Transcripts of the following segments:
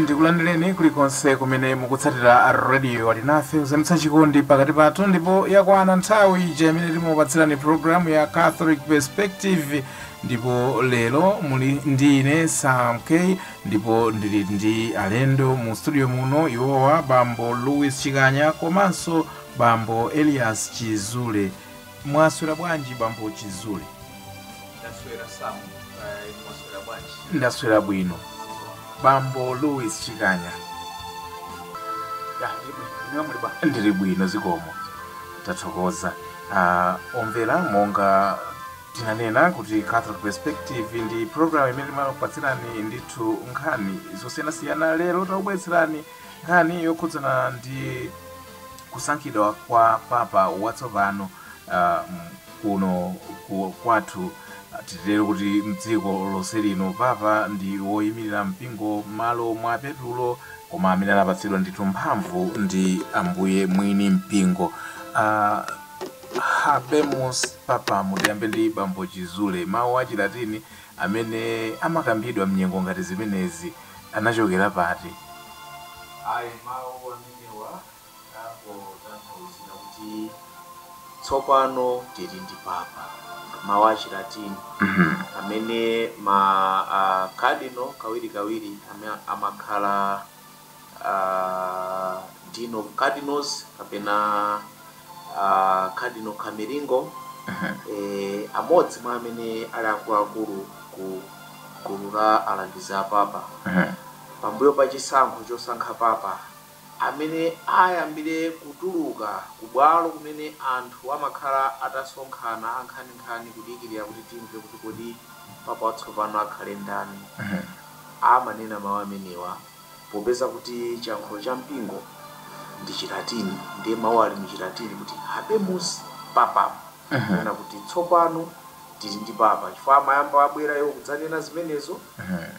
ndikulandireni kulikonse kumene mukutsatira radio alinafe kuzamitsa chikondi pakati pathu ndipo yakwana nthawi ija imene timupatsirani programu ya catholic perspective ndipo lero muli ndi ine sam k ndipo ndili ndi alendo mu studio muno iwowa bambo louis chikanya komanso Bambo Elias Chizule. Mwaswera bwanji bambo Chizule? Ndaswera Sam, eh, mwaswera bwanji? Ndaswera bwino. Bambo Louis Chikanya. Ya, ndili bwino. Inuyo muli bwanji? Ndili bwino zikomo. Tathokoza. Ah, omvera monga tinanena kuti Catholic Perspective ndi program imene timakupatsirani ndithu nkhani zosiyanasiyana lero takubweretserani nkhani yokhudzana ndi kusankhidwa kwa papa watsopano uh, kuno ku, kwathu titero kuti mdziko lonse lino papa ndi woyimirira mpingo malo mwa petulo koma amene anapatsidwa ndithu mphamvu ndi ambuye mwini mpingo uh, habemus papam tiyambe ndi bambo chizule mawu a chilatini amene amakambidwa mnyengo ngati zimenezi anachokera pati ayi mawu amene newa angotanthauza kuti tsopano tiri ndi papa, mawu a Chilatini amene ma a cardinal kawirikawiri amakhala a dean of cardinals kapena. a Cardinal Camerlengo, amodzi mwa amene ali akuluakulu ku gulu la Alangizi a Papa, pambuyo pa chisankho chosankha Papa amene ayambire kutuluka ku bwalo kumene anthu amakhala atasonkhana ankhaninkhani kudikirira kuti timve kuti kodi Papa watsopano akhale ndani, amanena mawu amenewa. Popeza kuti chiyankhulo cha mpingo ndi Chilatini, ndiye mawu ali mu Chilatini kuti Habemus Papam, kunena kuti tsopano tili ndi Papa, chifukwa amayamba abwera iwo kudzanena zimenezo,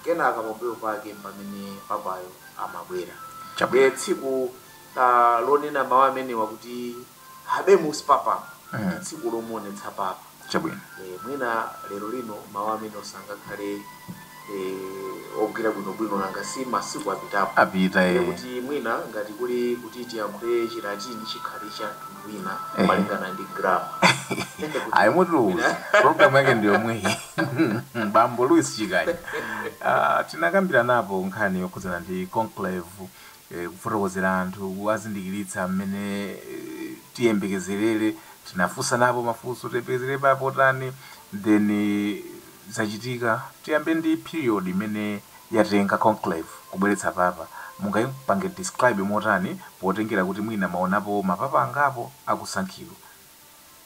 kenaka pambuyo pake mpamene Papayo amabwera. Chabe tsiku lonena mawu amenewa kuti. Habemus Papam ndi tsiku lomuonetsa Papa Chabwino. eh, mwina lero lino mawu amenewo sangakhale eh, ogwira bwinobwino nanga si masiku apitapo Apita Ndiye eh. kuti mwina ngati kuli kuti tiyankhule chilatini chikhale cha mtundu wina Eh. malingana ndi grama Ayi mutiuza. Program yake ndi yomweyi. Bambo Louis Chikanya. Ah, tinakambiranapo nkhani yokhudzana ndi conclave e Kufotokozera anthu, kuwazindikiritsa m'mene tiyembekezerere, tinafunsa napo mafunso, tiyembekezere Papa otani, then zachitika, tiyambe ndi period imene yatenga conclave kubweretsa Papa, mungaipange describe motani potengera kuti mwina mwaonapo ma Papa angapo akusankhidwa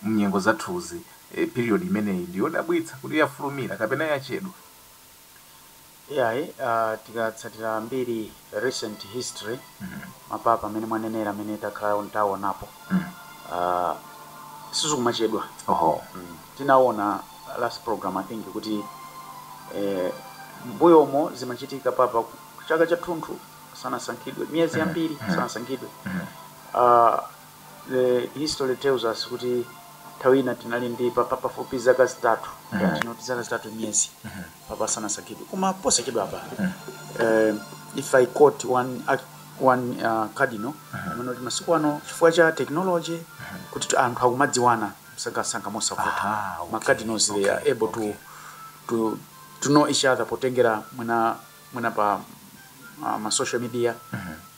m'nyengo zathuzi, e period imeneyi ndi yodabwitsa, kuti yafulumira kapena yachedwa? Iyayi, ah, tikatsatira mbiri recent history mapapa amene mwanenera amene takhala tawonapo ah, sizikumachedwa oho Mm. tinaona last program i think kuti eh, mbuyomo zimachitika papa ku- chaka chathunthu sanasankhidwe miyezi yambiri sanasankhidwe Ah, The history tells us kuti nthawi ina tinali ndi papa pafupi zaka zitatu ngati not zaka zitatu miyezi papa asanasankhidwe koma posachedwapa eh, if i quote one, act- one uh, cardinal amanena kuti masiku ano chifukwa cha technology kuti tu- anthu akumadziwana msangamsanga mosavuta Aha, okay, ma cardinals they are okay, able okay. to, to, to know each other potengera mwina, mwina pa uh, ma social media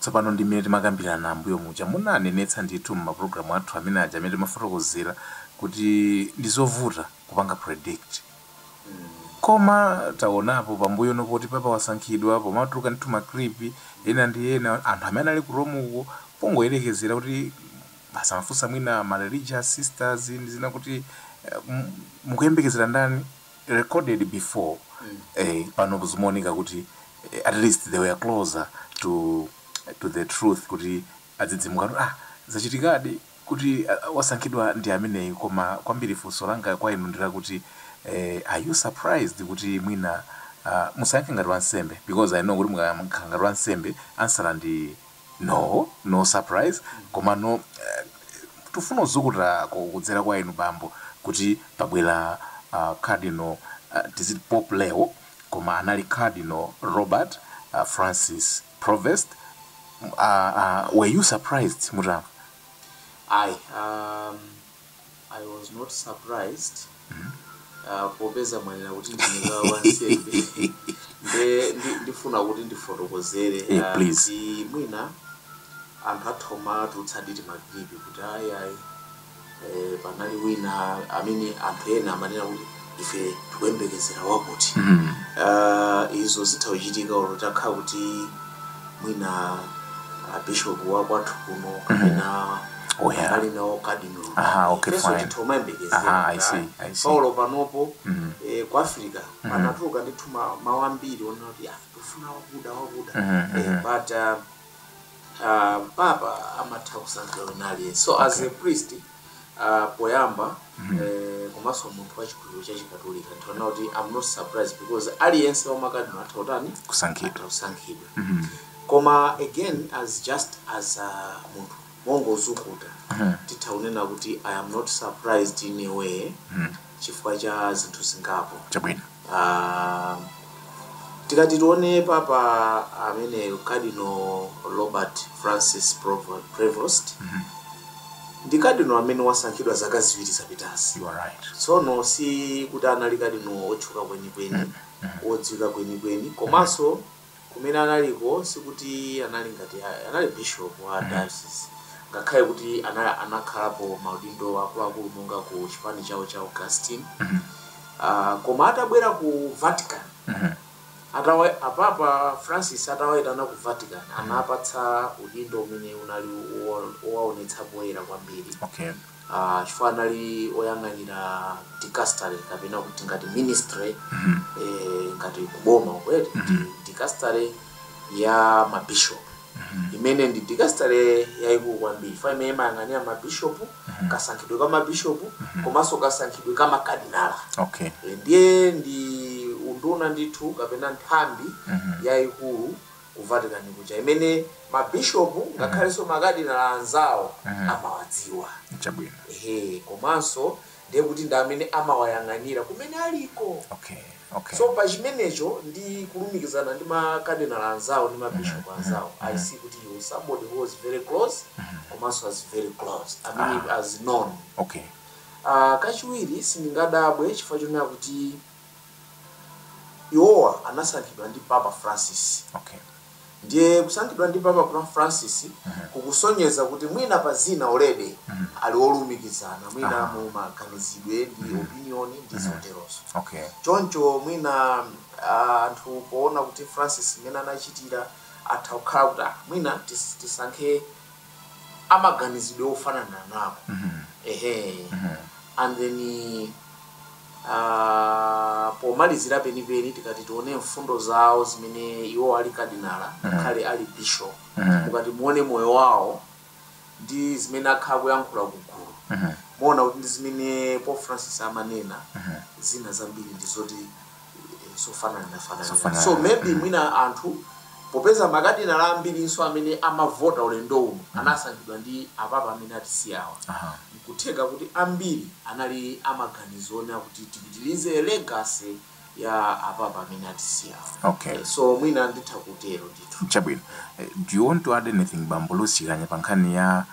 Tsopano ndi mmene timakambirana m'mbuyo muja munanenetsa ndithu m'mapulogalamu athu amene aja amene timafotokozera kuti ndi zovuta kupanga predict. Koma taonapo pambuyono poti papa wasankhidwa, pomatuluka ndithu ma clip ena ndi ena, anthu amene anali ku Rome uko pongoyerekezera kuti basi amafunsa mwina ma religious sisters ndi zina kuti eh, m- mukuyembekezera ndani? recorded before eh pano zimaoneka kuti eh, at least they were closer to to the truth kuti adzidzimuka kuti, ah zachitikadi kuti ah, wasankhidwa ndi ameneyi koma kwambiri funso langa kwa inu ndi lakuti eh, are you surprised kuti mwina ah, musayankhe ngati wansembe because i know kuti mukakhala ngati wansembe answer ndi No no surprise komano tufuna uzukuta ko kudzera kwa inu bambo kuti pabwera a cardinal tiziti pope leo koma anali cardinal robert francis prevost a a were you surprised mutamva. Ayi a I was not surprised uh, popeza mwanena kuti ndisakhale wansembe nde ndi- ndifuna kuti ndifotokozere Eh, ah, please. kuti mwina anthu atha kumatsutsadi ndi ma clip kuti ayi ayi eh, panali wina amene anthu ena amanena kuti ife tikuyembekezera wakuti mm. uh, izo zitha uchitika olo takhala kuti mwina uh, bishop wa kwathu kuno kapena Oh, yeah. ali nawo kadinolo Aha, okay, Ifenso fine. titha umayembekezera Aha, I kuti, see, ah, I see. paulo panopo Mhm. eh, ku africa panatuluka ndithu ma- mawu ambiri onena kuti ah, tufuna wakuda wakuda Mhm, Eh, mhm. but uh, uh, papa amatha kusankhidwa wina aliyense so as a priest uh, poyamba mm -hmm. eh, komanso munthu wa chikhulupiriro cha chikatolika ndiona kuti am not surprised because aliyense wa makadinala atha kutani kusankhidwa atha kusankhidwa koma again as just as uh, munthu mongozukuta titha kunena kuti i am not surprised in a way chifukwa cha zinthu zingapo Chabwino. um, tikati tione papa amene cardinal robert francis Provo- prevost ndi cardinal amene wasankhidwa zaka ziwiri zapitazi You are right. tsono si kuti anali cardinal otchuka kwenikweni odziwika kwenikweni komanso Kumene analiko sikuti anali ngati anali bishop wa diocese, ngakhale kuti anakhalapo maudindo akuluakulu monga ku chipani chawo cha Augustine. Uh, koma atabwera ku Vatican apapa Francis atawaitana ku Vatican anapatsa udindo umene unali wowaonetsa poyera kwambiri Okay. ah, chifukwa anali oyang'anira dicastery kapena kuti ngati ministry eh, ngati kuboma kwete dicastery ya mabishop imene ndi dicastery yayikulu kwambiri chifwa imene imayang'anira mabishop kasankhidwe ka mabishop komanso kasankhidwe ka makadinala okay Eh, ndiye ndi unduna ndithu kapena nthambi yayikulu ku Vatican kuja imene mabishop ngakhalenso makadinala anzawo amawadziwa. Chabwino. Ehe, komanso ndiye kuti ndi amene amawayang'anira kumene aliko. Okay. Okay. So pa chimenecho ndi kulumikizana ndi makadinala anzawo ndi mabishop anzawo, I see kuti he was somebody who was very close komanso as very close. I mean as known. Okay. Ah, kachiwiri sindingadabwe chifukwa chonena kuti Iwowa anasankhidwa ndi Papa Francis. Okay. Ndiye kusankhidwa ndi Papa Fra- Francis kukusonyeza kuti mwina pa zina already ali olumikizana mwina Aha. mu maganizidwe ndi opinion ndi zoterozo. Okay. Choncho mwina ah, anthu poona kuti Francis mmene anachitira atha kukhala kuti ah, mwina tis- tisankhe amaganizidwe ofanana nawo mm -hmm. ehe mm -hmm. and then uh, pomalizira penipeni tikati tione mfundo zawo zimene iwo ali kadinala mm -hmm. ngakhale ali bishop mm -hmm. mukati muone moyo wawo ndi zimene akhala akuyankhula kugulu mm -hmm. muona kuti ndi zimene Pope Francis amanena mm -hmm. zina zambiri ndi zoti zofanananafanana so maybe mwina anthu popeza makadinala ambirinso amene amavota ulendo uno anasankhidwa ndi apapa amene atisiyawa, n'kutheka kuti ambiri anali a maganizo onena kuti tipitilize legacy ya apapa amene atisiyawa. Okay. So mwina nditha kutero ndithu. Chabwino. Do you want to add anything Bambo Lucy Kanya pa nkhani ya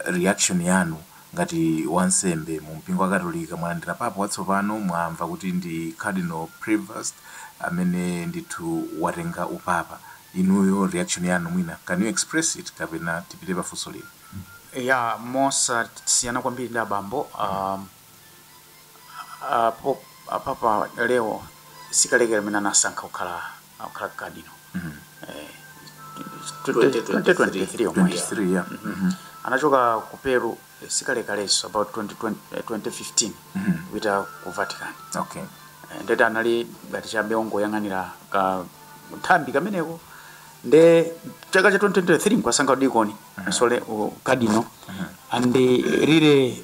reaction yanu Ngati wansembe mu mpingo wakatolika mwalandira Papa watsopano mwamva kuti ndi Cardinal Prevost amene ndithu watenga upapa inuyo reaction yanu mwina can you express it kapena tipite pa funso lina? Eya, mosasiyana kwambiri ndi abambo. a papa leo sikalekale amene anasankha kukhala akukhala kadino eh, 2023 omwe 23 yeah. Mhm. anachoka ku peru eh, sikalekalenso about 2020, eh, 2015 kupita ku vatican okay Eh, nde anali ngati chabe ongoyang'anira kanthambi kameneko nde chaka cha 2023 nkuwasankha udikoni sole kadino and eh, lile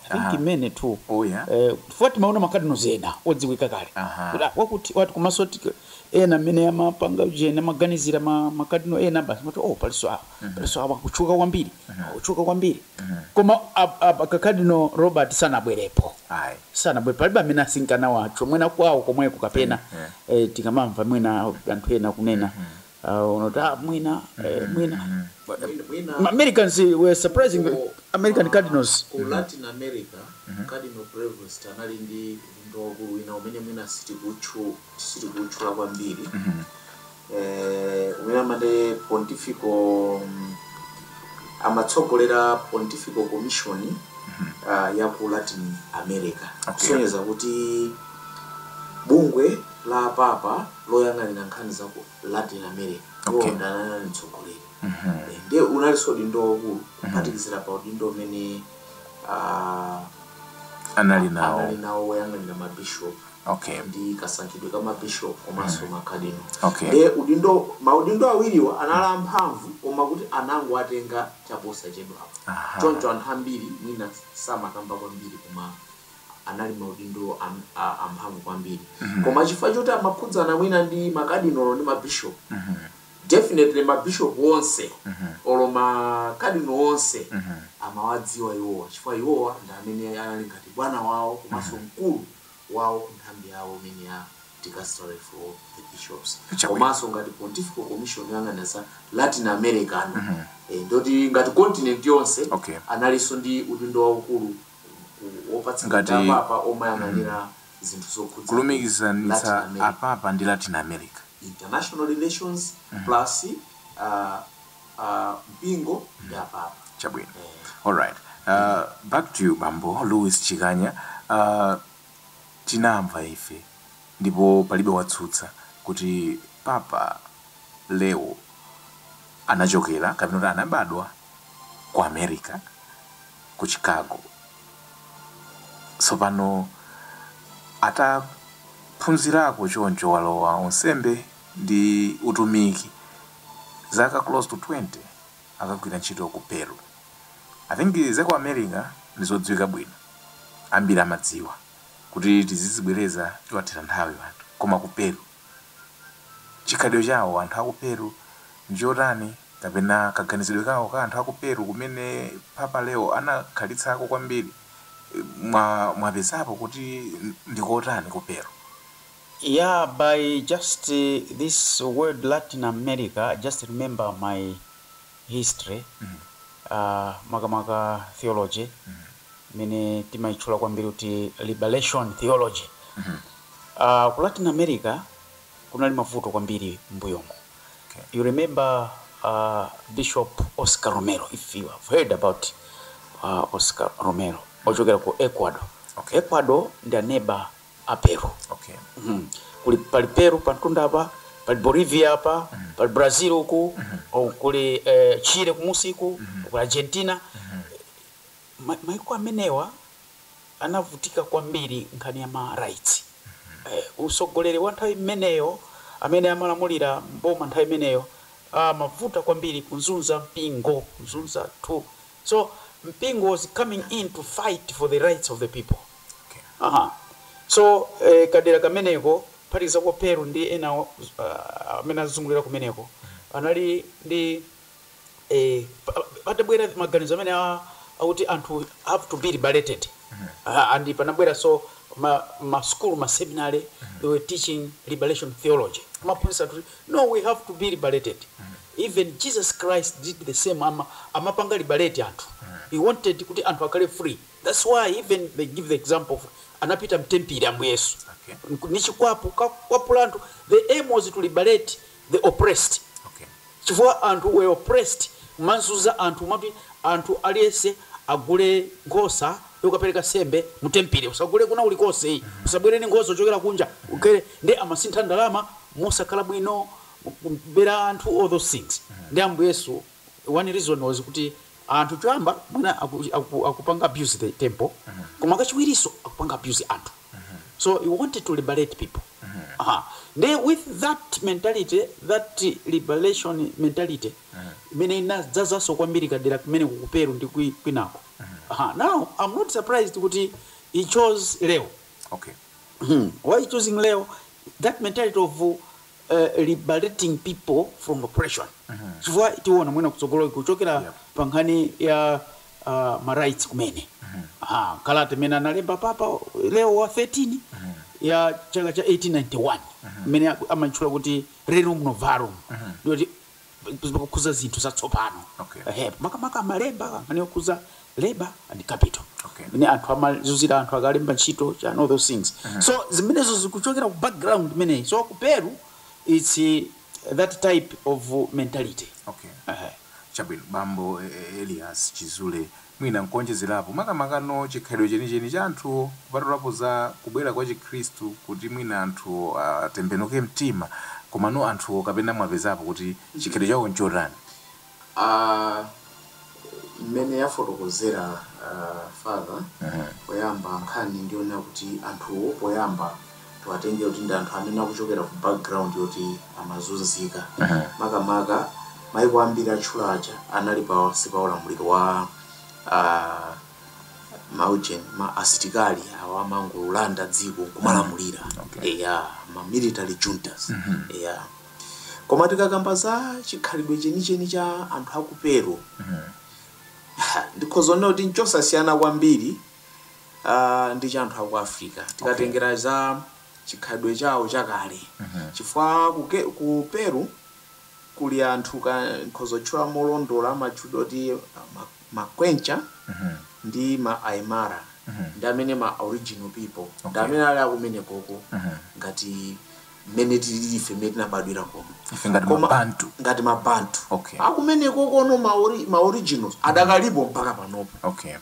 Aha. I mean too Oh, yeah. eh, chifukwa timaona makadino ena odziwika kale Aha. Kuti, ah, wakuti wati komanso ti- ena amene amapanga ujeni amaganizira ma- makadino ena basi amati oh paliso awa paliso awa kutchuka kwambiri kutchuka kwambiri koma ab- ab- kakadino robert sanabwerepo Ayi. sanabwe palibe amene ankanena zawo mwina kwawo komweko kapena Yeah. eh, tikamamva mwina anthu ena kunena Ah, unoti ah, mwina eh, mwina But mwina- mwina Ma- Americans were surprised Ku- American ah, Cardinals ku latin america cardinal prevost anali ndi udindo waukulu wina umene mwina sitikutchu- sitikutchula kwambiri Eh, umene amati pontifical mm, amatsogolera pontifical commission ah, ya ku latin america Okay. kusonyeza kuti bungwe la papa loyang'anira nkhani za ku Latin America Okay. iwowo ndiye anali anali mtsogoleri Mhm. Eh, ndiye unalinso udindo waukulu kuphatikizira pa udindo umene ah, Anali nawo. anali nawo woyang'anira mabishop Okay. ndi kasankhidwe ka mabishop komanso makadino Okay. ndiye udindo maudindo awiriwa anali amphamvu koma kuti anangowatenga chaposachedwapo Aha. choncho anthu ambiri mwina samakamba kwambiri koma anali maudindo amphamvu kwambiri koma chifukwa choti amakhudzana mwina ndi makadinolo ndi mabishop definitely mabishop onse olo makadino onse amawadziwa iwowa chifukwa iwowa ndi amene anali ngati bwana wawo komanso mkulu wawo ku nthambi yawo imene ya dicastery for the bishops komanso ngati pontifical commission yoyang'anira za latin america, ndoti ngati continent yonse Okay. analinso ndi udindo waukulu ngati kulumikizanitsa Apapa ndi Latin America. Chabwino, alright, back to you Bambo Louis Chikanya, tinamva ife ndipo palibe watsutsa kuti Papa Leo anachokera kapena kuti anabadwa. ku America, ku Chicago. Tsopano ataphunzirako choncho walowa unsembe ndi utumiki zaka close to 20 akagwira ntchito ku Peru. I think za ku America ndi zodziwika bwino, ambiri amadziwa kuti tizizibwereza tiwathera nthawi anthu, koma ku Peru. Chikhalidwe chawo anthu aku Peru ndichotani kapena kaganizidwe kawo ka anthu aku Peru kumene Papa Leo anakhalitsako kwambiri mwapezapo kuti ndikotani ku Peru? Yeah by just this word Latin America I just remember my history uh makamaka theology. imene timaitchula kwambiri kuti liberation theology. Uh, ku Latin America kunali mavuto kwambiri m'mbuyomo. You remember uh, Bishop Oscar Romero, if you have heard about uh, Oscar Romero, ochokera ku Ecuador. Okay. Ecuador ndi aneba a Peru. Okay. Mhm. Kuli pali Peru pantunda apa, pali Bolivia apa, pali Brazil uku, o, kuli eh, Chile kumusiku, kuli Argentina. Maiko amenewa anavutika kwambiri nkhani ya ma rights. Utsogoleri wa nthawi imeneyo, amene amalamulira m'boma nthawi imeneyo amavuta kwambiri kunzunza mpingo, kunzunza anthu. So mpingo was coming in to fight for the rights of the people. Aha. So kadera kameneko, kuphatikiza ku Peru ndi enawo amene azungulira kumeneko, anali ndi. patabwera maganizo amene akuti anthu have to be liberated and panabweraso ma school, ma seminary they were teaching liberation theology kumaphunzitsa anthu kuti no we have to be liberated even Jesus Christ did the same amapanga liberate anthu he wanted kuti anthu akhale free that's why even they give the example of anapita mtempile Ambuye Yesu ndi chikwapu kukwapula anthu the aim was to liberate the oppressed okay chifukwa anthu were oppressed kumazunza anthu kumati anthu aliyense agule nkhosa yokapereka sembe mu tempile usagule kwina kulikonse ayi usabwere ndi nkhosa uchokera kunja ugule nde amasintha ndalama mosakhala bwino kubera anthu all those things nde ambuye yesu one reason was kuti anthu choyamba mwina aku, aku, akupanga abuse the temple koma kachiwiriso akupanga abuse anthu so he wanted to liberate people aha nde with that mentality that liberation mentality imene inadzazaso kwambiri kudera kumene kukuperu ndi kwi- kwinako aha now i'm not surprised kuti he chose leo Okay. Hmm. Why choosing Leo? That mentality of uh, liberating people from oppression chifukwa tiona mwina kutsogoloku kuchokera pa nkhani ya ma rights kumene aha kalata imene analemba papa leo wa 13 ya chaka cha 1891 imene amatchula kuti rerum novarum ndi yoti imakhudza zinthu zatsopano okay. Ehe, makamaka amalemba nkhani yokhudza labor and capital okay. Mene anthu amazunzira anthu akalemba ntchito and all those things mm -hmm. So zimenezo zikuchokera ku background imeneyi so ku Peru it's eh, that type of mentality okay. Ehe. Chabwino bambo eh, eh, Elias Chizule mwina nkuonjezerapo, makamakano chikhalidwe chenicheni cha anthuwo, kupatulapo za kubwera kwa Chikhristu kuti mwina anthuwo atembenuke mtima, komano anthuwo kapena mwapezapo kuti chikhalidwe chawo nchotani? A, mmene afotokozera a father poyamba nkhani ndi yonena kuti anthuwo poyamba. tiwatengere kuti ndi anthu amene akuchokera ku background yoti amazunzika makamaka maiko ambiri atchula aja anali pansi pa ulamuliro wa ah, maujeni ma asitikali awa amangolanda dziko kumalamulira Okay. eya ma military juntas eya koma tikakamba za chikhalidwe chenicheni cha anthu aku Peru ndikhoza kunena kuti nchosasiyana kwambiri uh, ndi cha anthu a ku africa okay. tikatengera za chikhalidwe chawo chakale Mhm. chifukwa ku, Ke- ku peru kuli anthu ka nkhoza kutchula molondola amatchulidwa kuti ah, ma- ma Quechua Mhm. ndi ma aymara Mhm. ndi amene ma original people ndi Okay. amene ali akumene koko Mhm. ngati mmene tilili ife mmene tinabadwira kono ife ngati Koma- mabantu ngati mabantu Okay. akumene kokono ma, ori, ma originals adakalipo mpaka panopo okay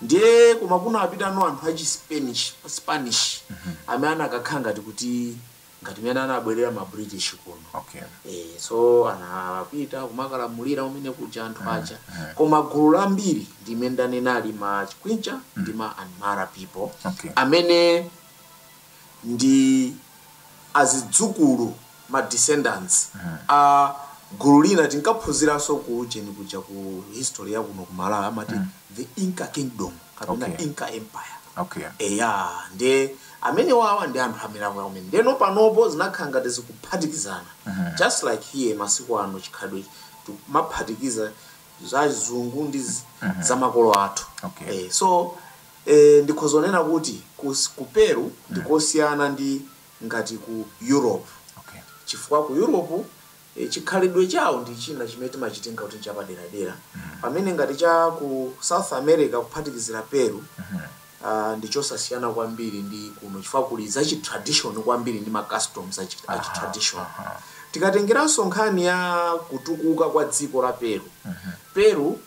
Ndiye koma kunapitano anthu achi Spanish, Spanish amene anakakhala ngati kuti ngati mmene anabwerera ma British kuno. Okay. Eh, so anapita kumakalamulira kumene kuja anthu aja. Koma gulu lambiri ndi mmene ndanenera ma Quechua ndi ma Aymara people Okay. amene ndi azidzukulu ma descendants a gulu lina tinkaphunziranso ku ujeni kuja ku history ya kuno ku malawi amati the inca kingdom kapena Okay. inca empire okay eya nde amene awawa ndi anthu amilango yakumene ndeno panopo zinakhala ngati zikuphatikizana just like here masiku ano chikhalidwe timaphatikiza za zungu ndi z- za makolo athu Okay. Eh, so E, ndikhoza kunena kuti ku, ku Peru ndi kosiyana ndi ngati ku Europe Okay. chifukwa ku Europe e, chikhalidwe chawo ndi china chimene timachitenga kuti nchapaderadera pamene ngati cha ku South America kuphatikizira Peru ah, ndi chosasiyana kwambiri ndi kuno chifukwa kuli za chi tradition kwambiri ndi ma customs a chi a chi tradition tikatengeranso nkhani ya kutukuka kwa dziko la Peru Peru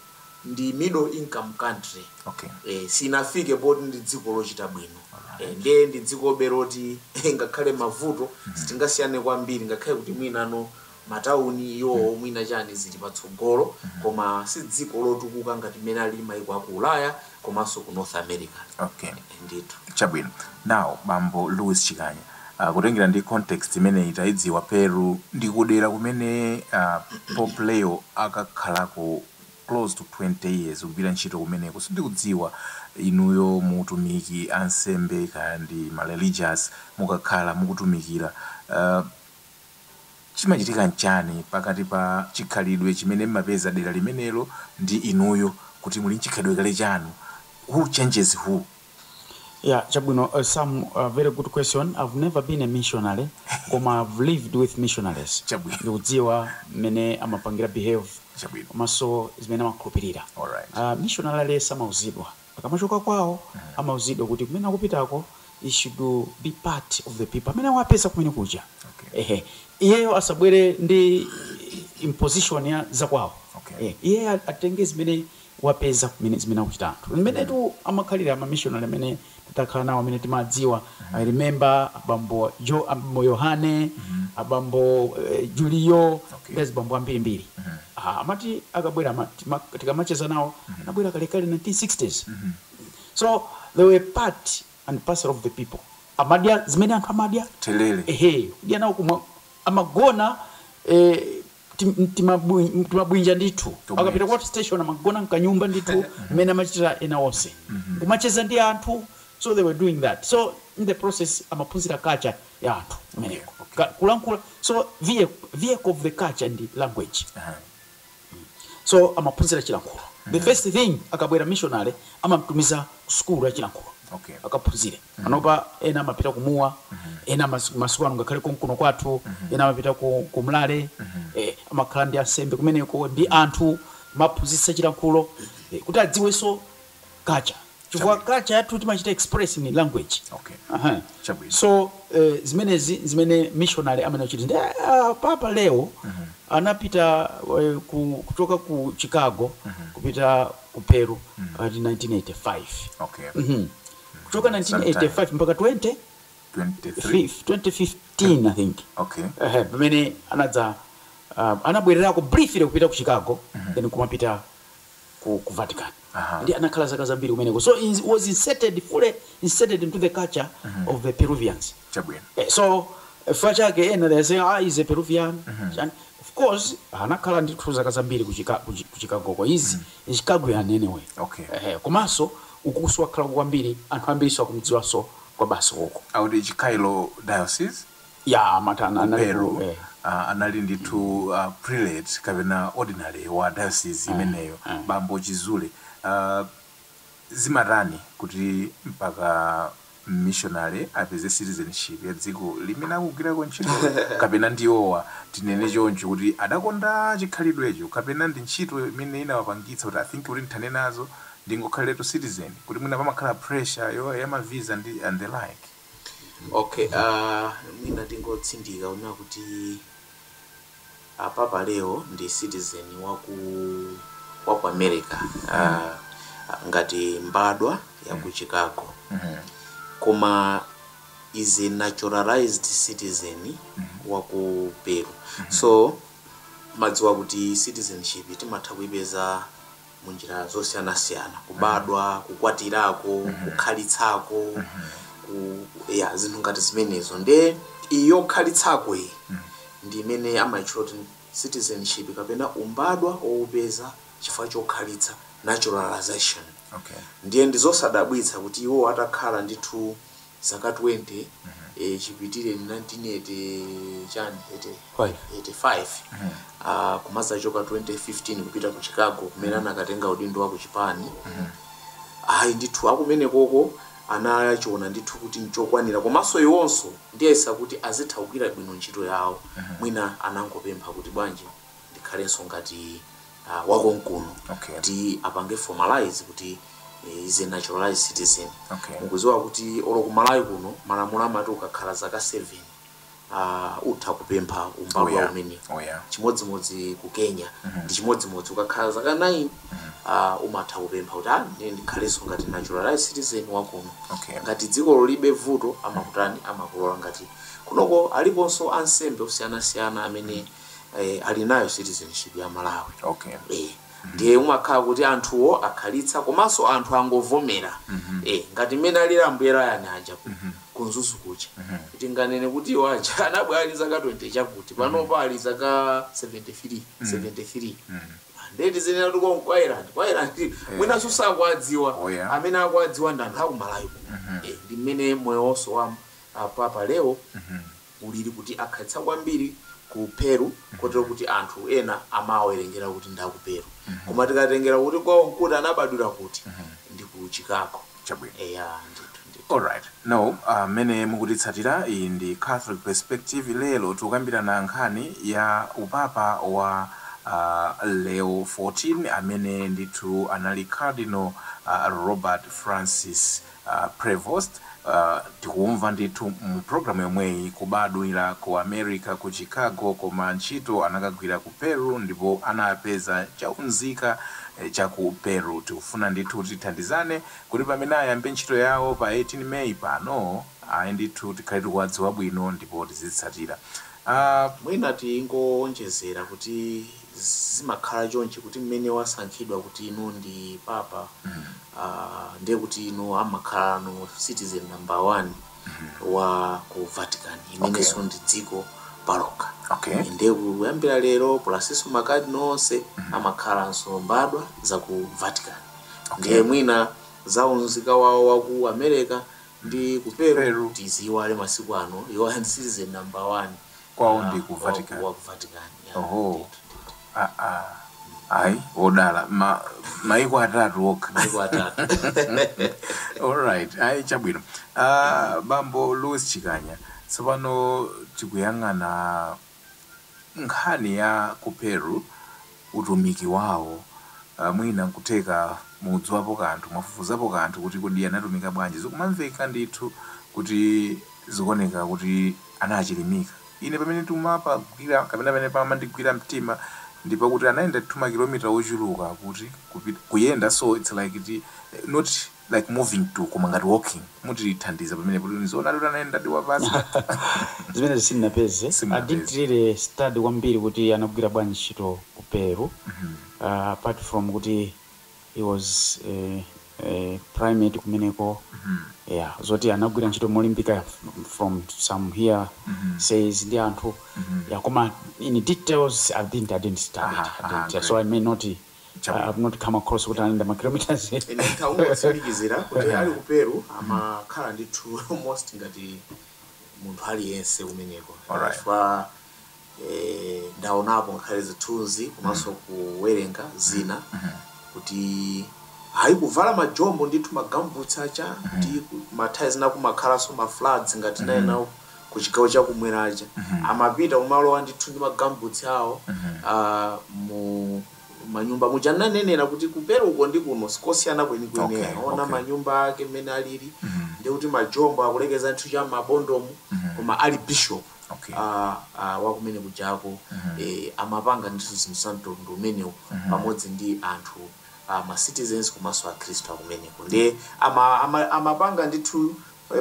ndi middle income country okay. e, sinafike poti ndi dziko lochita bwino e, ndiye ndi dziko be loti ngakhale mavuto mm -hmm. sitingasiyane kwambiri ngakhale kuti mwina matauni awo mm -hmm. mwina chani zili patsogolo mm -hmm. koma si dziko lotukuka ngati mmene alili maiko aku ulaya komanso ku North America Okay. ndithu. Chabwino. Now bambo Louis Chikanya, ah, kutengera ndi context imeneyi taidziwa Peru ndi kudera kumene ah, Pope Leo akakhalako close to 20 years kugwira ntchito kumeneko. Sindikudziwa inuyo mu utumiki ansembe kaya ndi ma religious mukakhala mukutumikira ah, Chimachitika nchani pakati pa chikhalidwe chimene mmapeza dera limenelo ndi inuyo poti muli nchikhalidwe kale chanu? Who changes who? Yeah, chabwino Sam very good question, I've never been a missionary koma I've lived with missionaries Chabwino. ndikudziwa mmene amapangira behave Chabwino. komanso zimene amakhulupirira. Alright. Mishonale aliyense amauzidwa. Akamachoka kwawo amauzidwa kuti kumene akupitako he should be part of the people amene wapeza kumene kuja Okay. ehe iyeyo asabwere ndi imposition ya zakwawo Okay. Eh, iye a- atenge zimene wapeza kumene zimene akuchita anthu mmenetu amakhalira amamishonari amene takhala nawo amene timadziwa i remember abambo jo abambo yohane abambo eh, julio Okay. ndi azibambo ambirimbiri Aaa amati akabwera ama tima tikamacheza nawo anabwera kalekale 1960s so they were part and parcel of the people amadya zimene anthu amadya therere ehe kudya nawo kumwa amagona eh, tim- mtimabwi- mtimabwinja ndithu Tomweti. akapita ku outstation amagona mkanyumba ndithu mmene amachitira ena onse kumacheza ndi anthu so they were doing that so in the process amaphunzira culture ya anthu kumeneko kulankhula so vehicle of culture ndi language so amaphunzira chilankhulo the first thing akabwera missionary amamtumiza ku sukulu ya chilankhulo akaphunzire panopa ena amapita ku mua ena masiku ano ngakhale konkuno kwathu ena amapita ku mlale amakhala ndi ansembe kumeneko ndi anthu amaphunzitsa chilankhulo kuti adziwenso culture chifukwa Chabwino. culture yathu timachita express in language Okay. Aha. Chabwino. so eh, zimenezi zimene missionary amene achita ndi ah, papa leo anapita eh, ku, kuchoka ku chicago kupita ku peru ati 1985 Okay. Mhm. kuchoka Sometime. 1985 mpaka 20 23. 2015 i think Okay. Ehe, pamene anadza uh, anabwererako briefly kupita ku chicago then kumapita ku ku Vatican Aha. ndi anakhala zaka zambiri kumeneko so in, was inserted fully inserted into the culture of the Peruvians chabwino Eh, so chifukwa chake ena they say ah he is a Peruvian Chani? of course anakhala ndithu zaka zambiri ku Chica- ku Chi- ku Chicago ko is in Chicago yani anyway Okay. eh komanso ukunso wakhala kwambiri anthu ambiri akumdziwanso kwa basi uko auti Chiclayo diocese ya amati ana- ku anali ku- Peru eh. ah, anali ndithu ah, prelate kapena ordinary wa diocese imeneyo eh. bambo chizule ah, zimatani kuti mpaka missionary apeze citizenship ya dziko limene akugwirako ntchito kapena ndi iwowa tinene choncho kuti adakonda chikhalidwecho kapena ndi ntchito imene inawapangitsa kuti I think kuti nthane nazo ndingokhaliretu citizen kuti mwina pamakhala pressure yo- ya mavisa ndi and the like Okay aah mwina tingotsindika kunena kuti Papa Leo ndi citizen waku waku America aah ngati mbadwa yaku Chicago koma is a naturalized citizen waku Peru so timadziwa kuti citizenship timatha kuipeza mu njira zosiyanasiyana, kubadwa, kukwatirako, kukhalitsako, ku, ya zinthu ngati zimenezo nde iyi yokhalitsako iyi ndi imene amayitchula kuti citizenship kapena umbadwa wowupeza chifukwa chokhalitsa naturalization Okay. ndiye ndizosadabwitsa kuti iwo atakhala ndithu zaka 20 eh, chipitire 1980 chani 80 Five. 85 ah, kumazachoka 2015 kupita ku chicago kumene anakatenga udindo wa ku chipani ayi ndithu akumene koko anachiona ndithu kuti nchokwanira komanso iwonso ndiyesa kuti azitha kugwira bwino ntchito yawo mwina anangopempha kuti bwanji ndikhalenso ngati uh, wakonkuno Okay. kuti apange formalize kuti eh, is a naturalized citizen Okay. mukudziwa kuti olo ku malawi kuno malamulo amati ukakhala zaka 7 uh, utha kupempha Oh, umbadwa yeah. umene Oh, yeah. chimodzimodzi ku kenya ndi chimodzimodzi ukakhala zaka 9 uh, umatha kupempha kuti ah, ndine ndikhalenso ngati naturalized citizen wakuno Okay. ngati dziko lolibe vuto amakutani amakulola ngati kunoko aliponso ansembe osiyanasiyana amene eh, ali nayo citizenship ya malawi okay eh, ndiye umakhala kuti anthuwo akhalitsa komanso anthu angovomera eh, ngati mmene alili ambuye rayani aja ku- ku Mzuzu kuja tinganene kuti iwo aja anabwera ali zaka 20 chakuti panopa ali zaka 73 73 nde tizinena kuti ku Ireland ku Ireland mwinanso sakwadziwa Oh, yeah. amene akwadziwa ndi anthu akumalawi kuno Eh, ndi mmene moyo wonso wa ah, papa leo ulili kuti akhalitsa kwambiri ku Peru kotero kuti anthu ena amawerengera kuti ndi a ku Peru. Koma tikatengera kuti kwawo n'kuti anabadwira kuti, ndi ku Chicago. Chabwino. Eya, ndithu, ndithu. Alright. Now, ah, mmene mukutitsatira, iyi ndi Catholic Perspective. Lero tikukambirana nkhani ya upapa wa, ah, Leo 14, amene ndithu anali Cardinal, ah, Robert Francis. Prevost, Tikumva ndithu mu program yomweyi, kubadwira ku America ku Chicago koma ntchito anakagwira ku Peru ndipo anapeza cha unzika cha ku Peru. Tikufuna ndithu tithandizane kuti pamene ayambe ntchito yawo pa 18 May pano, ayi ndithu tikhale tikuwadziwa bwino ndipo tizitsatira. A. Mwina tingoonjezera kuti. zimakhala chonchi kuti mmene wasankhidwa kuti inu ndi papa uh, ndiye kuti inu amakhala no citizen number one wa ku vatican Okay. imenenso ndi dziko palokha okay ndiye kuyambira lero plus-nso makadinala onse amakhalanso mbadwa za ku vatican ndiye mwina za unzika wawo wa ku america ndi ku peru Peru. tiziyiwale masiku ano iwo ndi citizen number one kwawo ndi ku vatican wa ku vatican ya oho ah, ah. ayi odala ma, maiko atatu okha maiko atatu alright ayi chabwino uh, bambo louis chikanya tsopano tikuyang'ana nkhani ya ku peru utumiki wawo, uh, mwina nkutheka mudziwapo kanthu, mwafufuzapo kanthu kuti kodi anatumika bwanji, zikumamveka ndithu kuti zikuoneka kuti anachilimika. Ine pamene ndimapagwira kapena pamene pamandigwira mtima ndi pakuti anayenda ndithu ma kilometer ochuluka kuti kupita, kuyenda so it's like ti, not like moving to koma ngati walking mutithandiza pamenepo kuti nizoonadi kuti anayendadi wapansi zimenezo sindinapeze i didn't simunapeze really study kwambiri kuti anagwira bwanji ntchito ku peru Mhm. uh, apart from kuti he was eh, eh, primate kumeneko Mhm. yeah zoti anagwira ntchito molimbika f- from some hearsays Mhm. ndi anthu Mhm. yeah koma in details i didn't i didn't study it Aha, i aha, didn't yeah, so i may not Chabwino. I've not come across kuti anayenda ma km. Ine nditangotsimikizira kuti ali ku Peru amakhala ndithu almost ngati munthu aliyense kumeneko Alright. chifukwa eh, ndaonapo ngakhale zithunzi komanso kuwerenga zina kuti ayi kuvala majombo ndithu ma gumboots aja ndi ku- nthawi zina kumakhalanso ma floods ngati naye nawo ku chigawo cha kumwera aja amapita kumalowa ndithu ndi ma gumboots awo a mu manyumba muja ndinanenera kuti ku Peruko ndi kuno sikosiyana kwenikweni Okay, ayi. ona okay. manyumba ake mmene alili ndi kuti majombo akulekeza ndithu cha mmabondomu koma ali bishop Okay. ah, ah, wakumene kujako eh, amapanga ndithu zinthu za mtundu umenewu pamodzi ndi anthu ah, ma citizens komanso akhristu akumeneko ndiye ama- ama- amapanga ndithu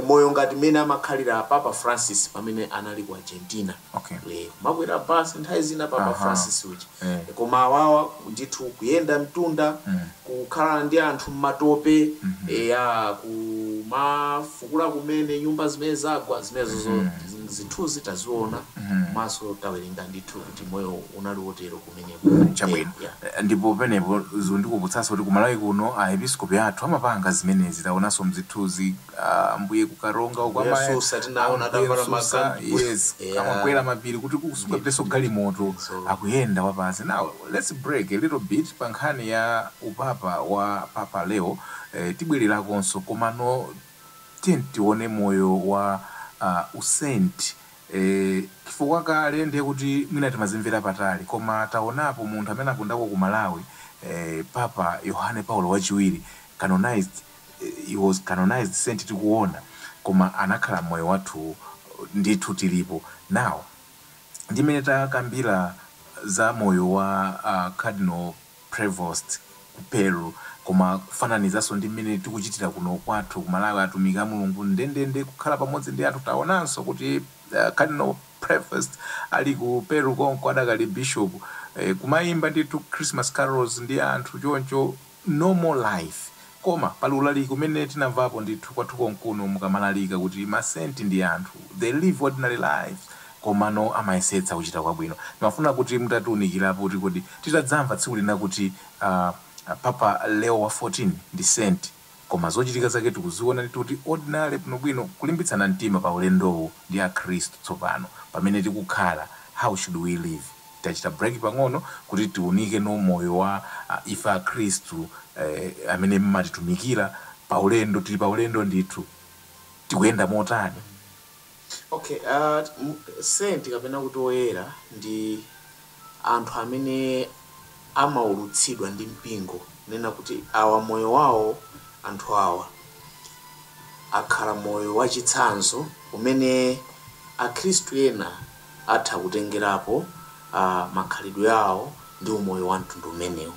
moyo ngati mmene amakhalira Papa Francis pamene anali ku Argentina Okay. eh, kumakwera bus nthawi zina Papa Aha. Francis uja Eh. Eh, koma awawa ndithu kuyenda mtunda Mm. kukhala ndi anthu mmatope Mhm. eya kumafukula kumene nyumba zimene zagwa zimenezozo Mhm. zinthuzi taziona Mhm. komanso tawerenga ndithu kuti moyo unali wotero kumeneko. Mm, chabwino Yeah. Eh, ndipo penepo zikundikumbutsanso kuti kumalawi kuno aepiskopi athu amapanga zimenezi taonanso mzithunzi ah, ambuye kukaronga uko Ambuye amaya- Msusa tinaona ambuye adavala Msusa, makanduku. yes Yeah. amakwera mapiri kuti kusungapitenso galimoto So- akuyenda wapansi now let's break a little bit pa nkhani ya upapa wa papa leo eh, tibwererakonso komano tiyeni tione moyo wa uh, usenti Eee chifukwa kale ndiye kuti mwina timazimvera patali koma taonapo munthu amene anapondako ku Malawi eeh Papa Yohane Paulo wachiwiri canonized he was canonized saint tikuona koma anakhala mmoyo wathuwu ndithu tilipo now ndi mmene takambira za moyo wa a Cardinal Prevost ku Peru koma kufananizanso ndi mmene tikuchitira kuno kwathu ku Malawi atumiki a Mulungu ndendende kukhala pamodzi ndi anthu taonanso kuti Cardinal Prevost ali ku Peru konko adakali Bishop kumayimba ndithu Christmas carols ndi anthu choncho normal life Koma pali ulaliki umene tinamvapo ndithu kwathu konkuno mukamalalika kuti ma saint ndi anthu, they live ordinary lives komano amayesetsa kuchita kwabwino. Timafuna kuti mutatiunikirapo kuti kodi titadzamva tsiku lina kuti aah Papa Leo wa 14 ndi saint koma zochitika zake tikuziona ndithu kuti ordinary bwinobwino kulimbitsana mtima pa ulendowu ndi akhristu tsopano pamene tikukhala, how should we live? Tachita break pang'ono kuti tiunike no moyo wa ife akhristu eh amene mmatitumikira paulendo tili paulendo ndithu tikuyenda motani. Okay ah mm saint kapena kuti oyera ndi anthu amene amaulutsidwa ndi mpingo kunena kuti awa moyo wawo anthu awa akhala moyo wachitsanzo umene akhristu ena atha kutengerapo a, makhalidwe awo ndi umoyo wa mtundu umenewu.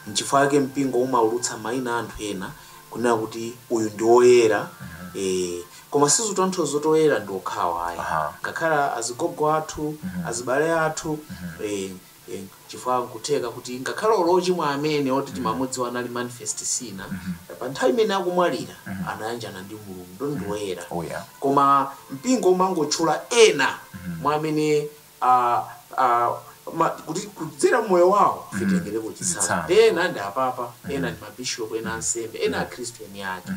Nchifukwa chake mpingo umaulutsa maina a anthu ena kunena kuti uyu ndi oyera ee. Koma sizikutanthauza kuti oyera ndi okhawa ayi. Ngakhale azigogo athu, azibale athu ee. Eeh chifukwa nkutheka kuti ngakhale olo ochimwa amene oti timamudziwa anali manifest sinner pa nthawi imene akumwalira anayanjana ndi Mulungu ndiye ndi oyera Oh yeah. koma mpingo umangotchula ena mwa amene ah, ah, ma- kuti kudzera mmoyo wawo ife titengereko chitsanzo Chitsanzo. ena ndi apapa ena ndi mabishopu ena ansembe ena akhristu eni ake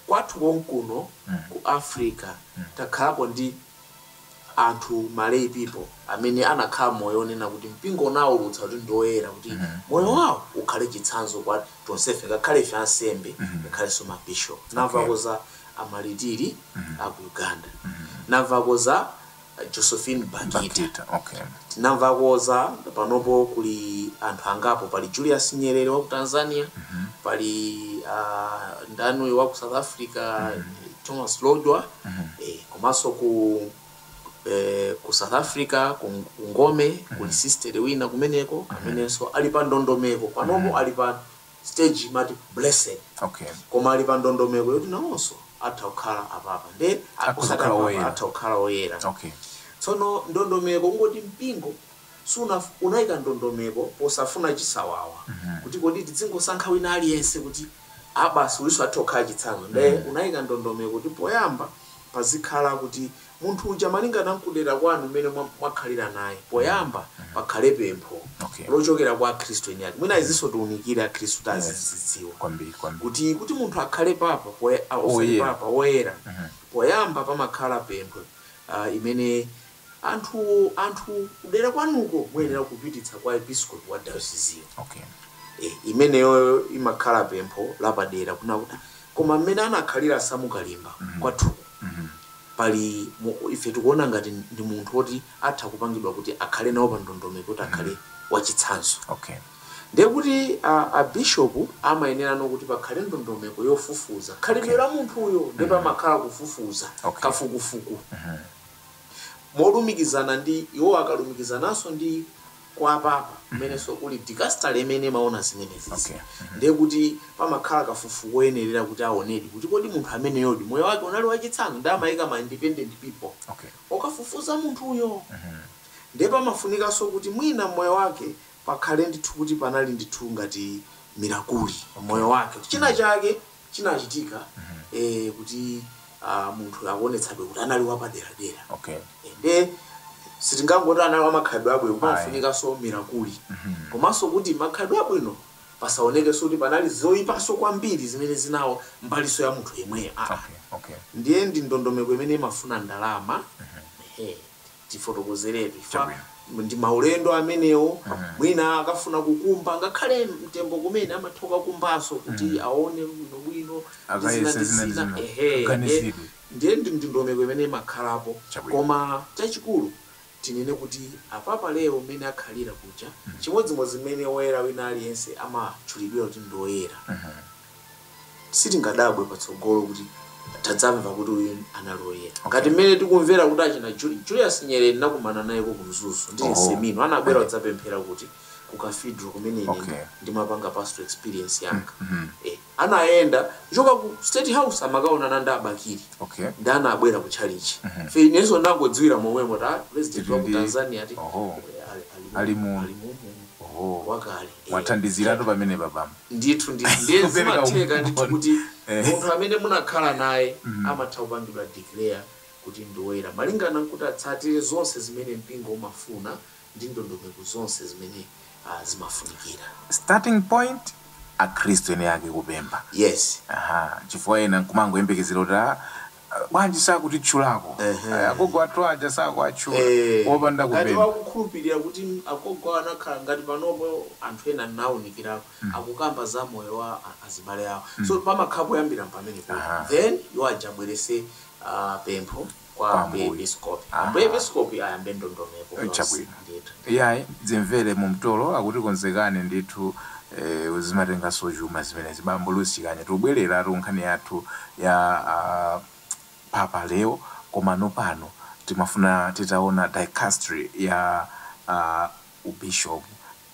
kwathu konkuno ku africa takhalapo ndi anthu ma lay people amene anakhala moyo onena kuti mpingo unaulutsa kuti ndi oyera kuti moyo wawo ukhale chitsanzo kwa tonsefe ngakhale ife ansembe ngakhalenso ma bishop Okay. Tinamvako za amalitiri a ku Uganda tinamvako za eh, Josephine Bakhita Bakhita okay tinamvako za panopo kuli anthu angapo pali Julius Nyerere wa ku Tanzania pali uh, ndani uyu wa ku South Africa Thomas Lodwa eh, komanso ku eh, ku south africa ku ku ngome kuli sister wina kumeneko amenenso ali pa ndondomeko panopo ali pa stage imati blessed okay koma ali pa ndondomeko yoti nawonso atha kukhala apapa nde Akhoza kukhala woyera. atha kukhala oyera okay tsono ndondomeko kungoti mpingo sunaf unaika ndondomeko posafuna chisawawa kuti kodi tidzingosankha wina aliyense kuti a basi uyuso atha kukhala chitsanzo nde unaika ndondomeko kuti poyamba pazikhala kuti munthu uja malingana nkudera kwanu mmene mwa mwakhalira naye poyamba pakhale pempho Okay. lochokera kwa akhristu eni ake mwina izinso tiunikire akhristu kuti Yes. azizidziwa Kwambiri, kwambiri. kuti kuti munthu akhale papa poya- ah, osati Oyera. papa woyera poyamba pamakhala pempho ah, imene Anthu anthu kudera kwanuko muyenera kupititsa kwa episkopi wa dayosiziyo. Okay. E, imeneyoyo imakhala pempho lapadera kunena kuti "Ah, koma mmene anakhalira Samu Kalimba kwathuko pali mu- ife tikuona ngati ndi munthu woti atha kupangidwa kuti akhale nawo pa ndondomeko kuti akhale wachitsanzo Okay. ndiye kuti a, a bishop amayenera no kuti pakhale ndondomeko yofufuza khalidwe la munthuyo ndipo amakhala kufufuza Okay. kafukufuku molumikizana ndi, iwo akalumikizananso ndi kwa apapa kumenenso kuli dikasitale imene imaona zimenezizi. Ndiye kuti pamakhala kafukufuku woyenerera kuti aonedi kuti kodi munthu ameneyodi moyo wake unali wachitsanzo ndiye amaika ma independent people okafufuza munthuyo. Ndiye pamafunikanso kuti mwina m'moyo wake pakhale ndithu kuti panali ndithu ngati mirakuli m'moyo wake kuti china chake. chinachitika eh, kuti ah, munthu akuonetsabe kuti anali wapaderadera okay Eh, nde sitingangoti anali wamakhalidwe abwino pamafunikanso mirakuli komanso kuti makhalidwe abwino pasaonekenso kuti panali zoyipanso kwambiri zimene zinaononga mbiriso ya munthu yemweyo Ah, okay okay ndiye ndi ndondomeko imene imafuna ndalama Ehe. tifotokozeretu chifukwa ndi maulendo amenewo mwina akafuna kukumba ngakhale mtembo kumene amatha kukakumbanso kuti aone bwinobwino ndi zina ndi zina ehe ndiye ndi ndondomeko imene imakhalapo koma chachikulu tinene kuti apapa Leo mmene akhalira kuja chimodzimodzi mmene woyera wina aliyense amatchulidwira kuti ndi woyera. sitingadabwe patsogolo kuti tadzamva kuti uyu anali woyera Okay. ngati mmene tikumvera kuti achina Juli- julius nyerere ndinakumana nayeko ku mzuzu ndili Oh. mseminale anabwera kudzapemphera kuti ku cathedral kumene ine Okay. ndimapanga pastoral experience yanga Mhm. eh, anayenda kuchoka ku state house amakaonana ndi a Bakili okay nde anabwera ku chalichi Mhm. fe inenso ndinangodziwira momwemo kuti a president wa ku Ndi- tanzania ati Oho. ali- ali- Ali mu- ali mu- oho wakale eh. wathandiziratu pamene papamo Ndithu ndithu ndiye zimatheka ndithu kuti Eh. munthu amene munakhala naye Mhm. amatha kupangidwa declare kuti ndi woyera malingana kuti atsatire zonse zimene mpingo umafuna ndi ndondomeko zonse zimene ah, zimafunikira. Starting point akhristu eni ake kupempha. Yes. Aha, chifukwa ena nkumangoyembekezera kuti ah, bwanji sakutitchulako agogo athu aja sakuwatchula opanda kupempha. Ngati akukhulupilira kuti agogo anakhala ngati panopo anthu ena ndinawunikirako akukamba za moyo wa azibale awo so pamakhala poyambira pamenepo then iwo aja abwerese pempho kwa Ambuye Episkopi Ambuye Episkopi ayambe ndondomeko yonse. ndithu. Iyayi dzimvere mumtolo akuti konzekane ndithu eeh zimatenganso chuma zimenezi bambo Louis Chikanya tikubwereratu kunkhani yathu ya a Papa Leo komano pano timafuna titaona dicastery ya a u Bishop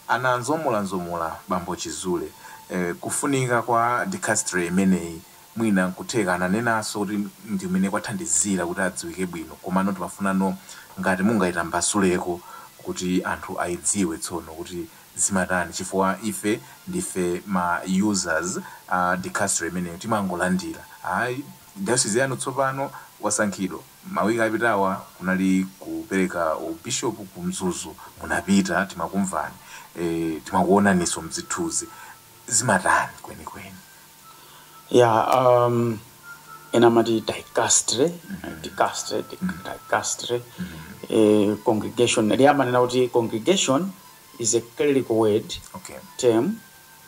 anazomolazomola bambo Chizule eeh kufunika kwa dicastery imeneyi Mwina nkutheka ananenanso kuti ndi kumene kwathandizira kuti adziwike bwino komano timafunano ngati mungaitambasuleko kuti anthu aidziwe tsono kuti zimatani chifukwa ife ndife ma users a dicastery imeneyo timangolandira ayi diocese yanu tsopano wasankhidwa mawiki apitawa kunali kupereka u bishop ku mzuzu munapita timakumvani ee timakuonaniso mzithuzi zimatani kwenikweni Yeah, um, ena mati dicastre, dicastre, dicastre, eh, congregation. Ndi amanena kuti congregation is a clerical word Okay. term.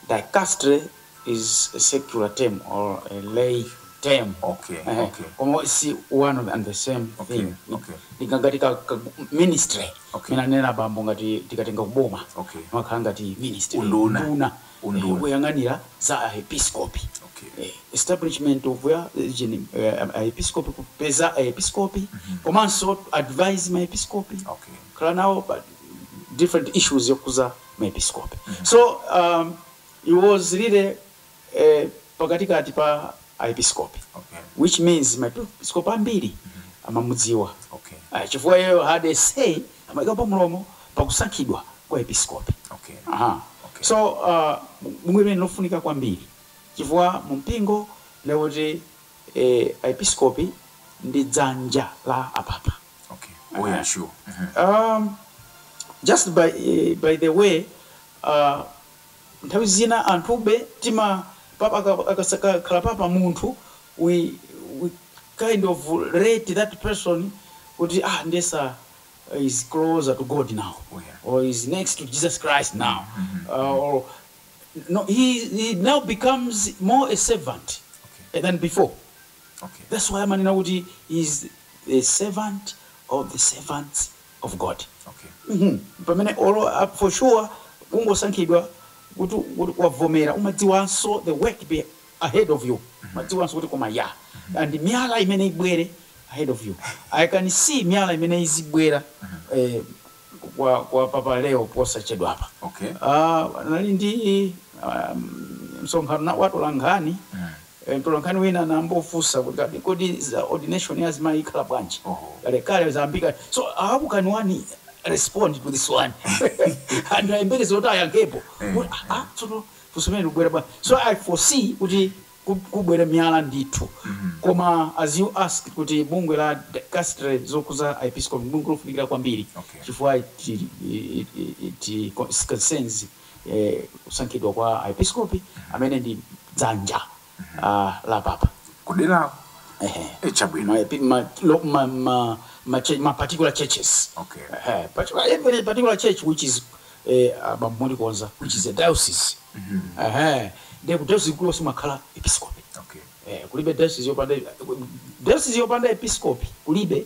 Dicastre is a secular term or a lay term. Okay, Eh, okay. Koma si one and the same Okay, thing. okay. Ndikangati ka, ka ministry. Okay. Mina nena bambo ngati tikatenga kuboma. Okay. Makhala ngati ministry. Unduna. Unduna. unduna woyang'anira za Aepiskopi. establishment of a region Aepiskopi kupeza Aepiskopi komanso advise ma Episkopi, kukhala nawo pa different issues okhudza ma Episkopi. So aah he was really eeh pakatikati pa Aepiskopi which means ma Episkopi ambiri amamudziwa chifukwa iyeyo had a say amaikapo mlomo pa kusankhidwa kwa episkopi. Ha, so, a, bungwe limeneli ndi lofunika kwambiri, chifukwa mu mpingo ndi loti, e, aepiskopi ndi dzanja la apapa. Ehe. A, just by, by the way, a. Nthawi zina anthufe tima papa akakhala papa munthu we we kind of rate that person kuti ah ndiye sa is closer to God now or is next to Jesus Christ now or no he he now becomes more a servant than before that's why amanena kuti he is a servant of the servants of God okay pamene olo for sure kungosankhidwa kuti kuti wavomera umadziwanso the work be ahead of you umadziwanso kuti koma ya and miyala imene ibwere ahead of you I can see miyala imene izibwera eh kwa kwa papa Leo posachedwapa okay ah anali ndi ah msonkhano wa atolankhani Mtolankhani wina anambofunsa kuti, kodi za ordination ya azimayi ikhala bwanji? Kalekale zayambika so how can one respond to this one? Anthu ayembekeze kuti ayankhepo kuti ah ah tsono funso limeneli likubwera bwanji? So I foresee kuti kub kubwera miyala ndithu koma as you asked kuti bungwe la dicastery yokhudza aepiskopi ndi bungwe lofunikira kwambiri Okay. chifukwa it it it it concerns e, kusankhidwa kwa aepiskopi amene ndi dzanja a, la papa kuderako Ehe. e chabwino ma, epi- ma, lo, ma, ma, ma, che- ma particular churches Okay. Ehe, but every particular church which is eh, abambo mundikonza which is a diocese Ehe, ndiye ku diocese kulo kumakhala episkopi okay Eh, kulibe diocese yopanda diocese yopanda episkopi kulibe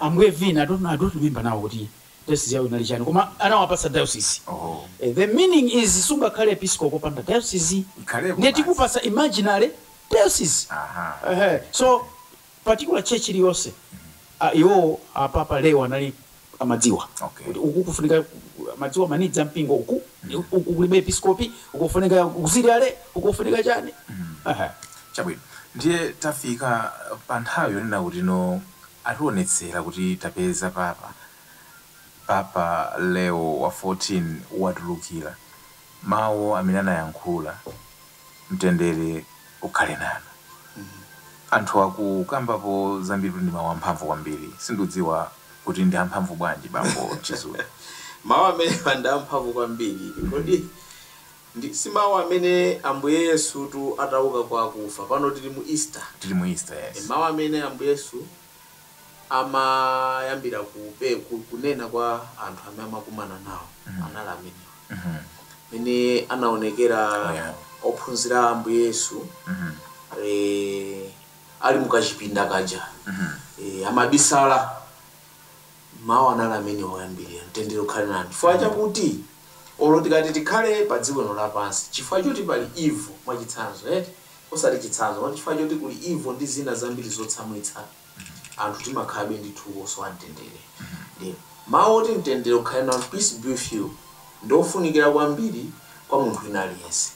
Ambuye Vin I don't know I don't remember now kuti diocese yawo inali chani koma anawapatsa diocese Oho. the meaning is sungakhale episkopi wopanda diocese Ikhalepo ndiye basi. tikupatsa imaginary diocese Aha. Ehe. so particular church iliyonse ah, iwo Apapa Leo anali amadziwa Okay. kuti uku kufunika amadziwa ma needs a mpingo uku uku kulibe episkopi uku kufunika auxiliary uku kufunika chani Ehe. Chabwino. Ndiye tafika pa nthawi yonena kuti no ationetsera kuti tapeza papa. Papa Leo wa 14 watulukira. Mawu amene anayankhula, mtendere ukhale nanu. Anthu akukambapo zambiritu ndi mawu amphamvu kwambiri. Sindidziwa kuti ndi amphamvu bwanji bambo Chizuma. Mawu amenewa ndi amphamvu kwambiri. Kodi Ndi, si mawu amene Ambuye Yesutu atauka kwa akufa. Pano tiri mu Easter. Tiri mu Easter, E, yes. mawu amene Ambuye Yesu amayambira kupe, ku, kunena kwa anthu amene amakumana nawo anali amenewa. Mene anaonekera Oh, yeah. ophunzira a Ambuye Yesu eh, ali mukachipinda kaja eh, amabisala Mawu anali amenewo oyambirira, Mtendere ukhale nanu. Chifukwa chakuti, olo tikati tikhale padziko lino lapansi, chifukwa choti pali evil, mwachitsanzo, eti, osati chitsanzo, moti chifukwa choti kuli evil ndi zina zambiri zotsamwitsa, anthu timakhalabe ndithu osowa mtendere. Ndiye, mawu oti Mtendere ukhale nanu, Peace be with you. ndi ofunikira kwambiri kwa munthu wina aliyense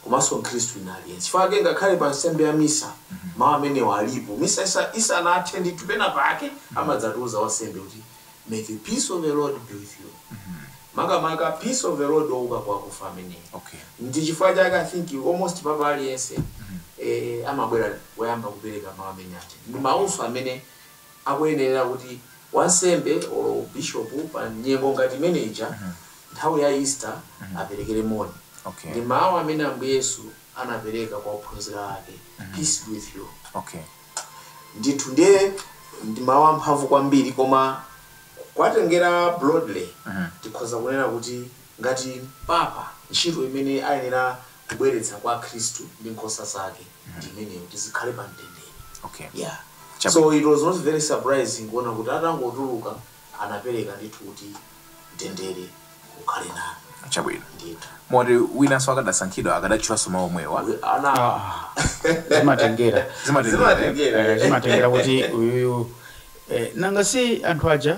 komanso mkhristu wina aliyense. Chifukwa chake ngakhale pa nsembe ya misa mau amenewa alipo. Misa isanathe ndithu pena pake amadzatiuza wansembe kuti May the peace of the Lord be with you. Makamaka peace of the Lord wouka kwa akufa ameneyo. Ndi chifukwa chake I think almost papa aliyense amabwera woyamba kupereka mau amene aja. Ndi maunso amene akuyenerera kuti wansembe or bishopu pa nyengo ngati imene ija nthawi ya Easter aperekere moni. Okay. Ndi mawu amene Ambuye Yesu anapereka kwa ophunzira ake, Peace be with you. Okay. Ndithu ndiye ndi mawu amphamvu kwambiri koma kuwatengera broadly tikhoza kunena kuti ngati Papa ntchito imene ayenera kubweretsa kwa Akhristu ndi nkhosa zake ndi imeneyo kuti zikhale pa mtendere. Okay. Yeah. Chabwino. So it was not very surprising kuona kuti atangotuluka anapereka ndithu kuti mtendere ukhale nanu. Chabwino. Ndithu. Moti winanso akadasankhidwa akadatchulanso mawu omwewa. We- Ana zimatengera Zimatengera. Zimatengera. Eh, zimatengera kuti uyuyu eh, nanga si anthu aja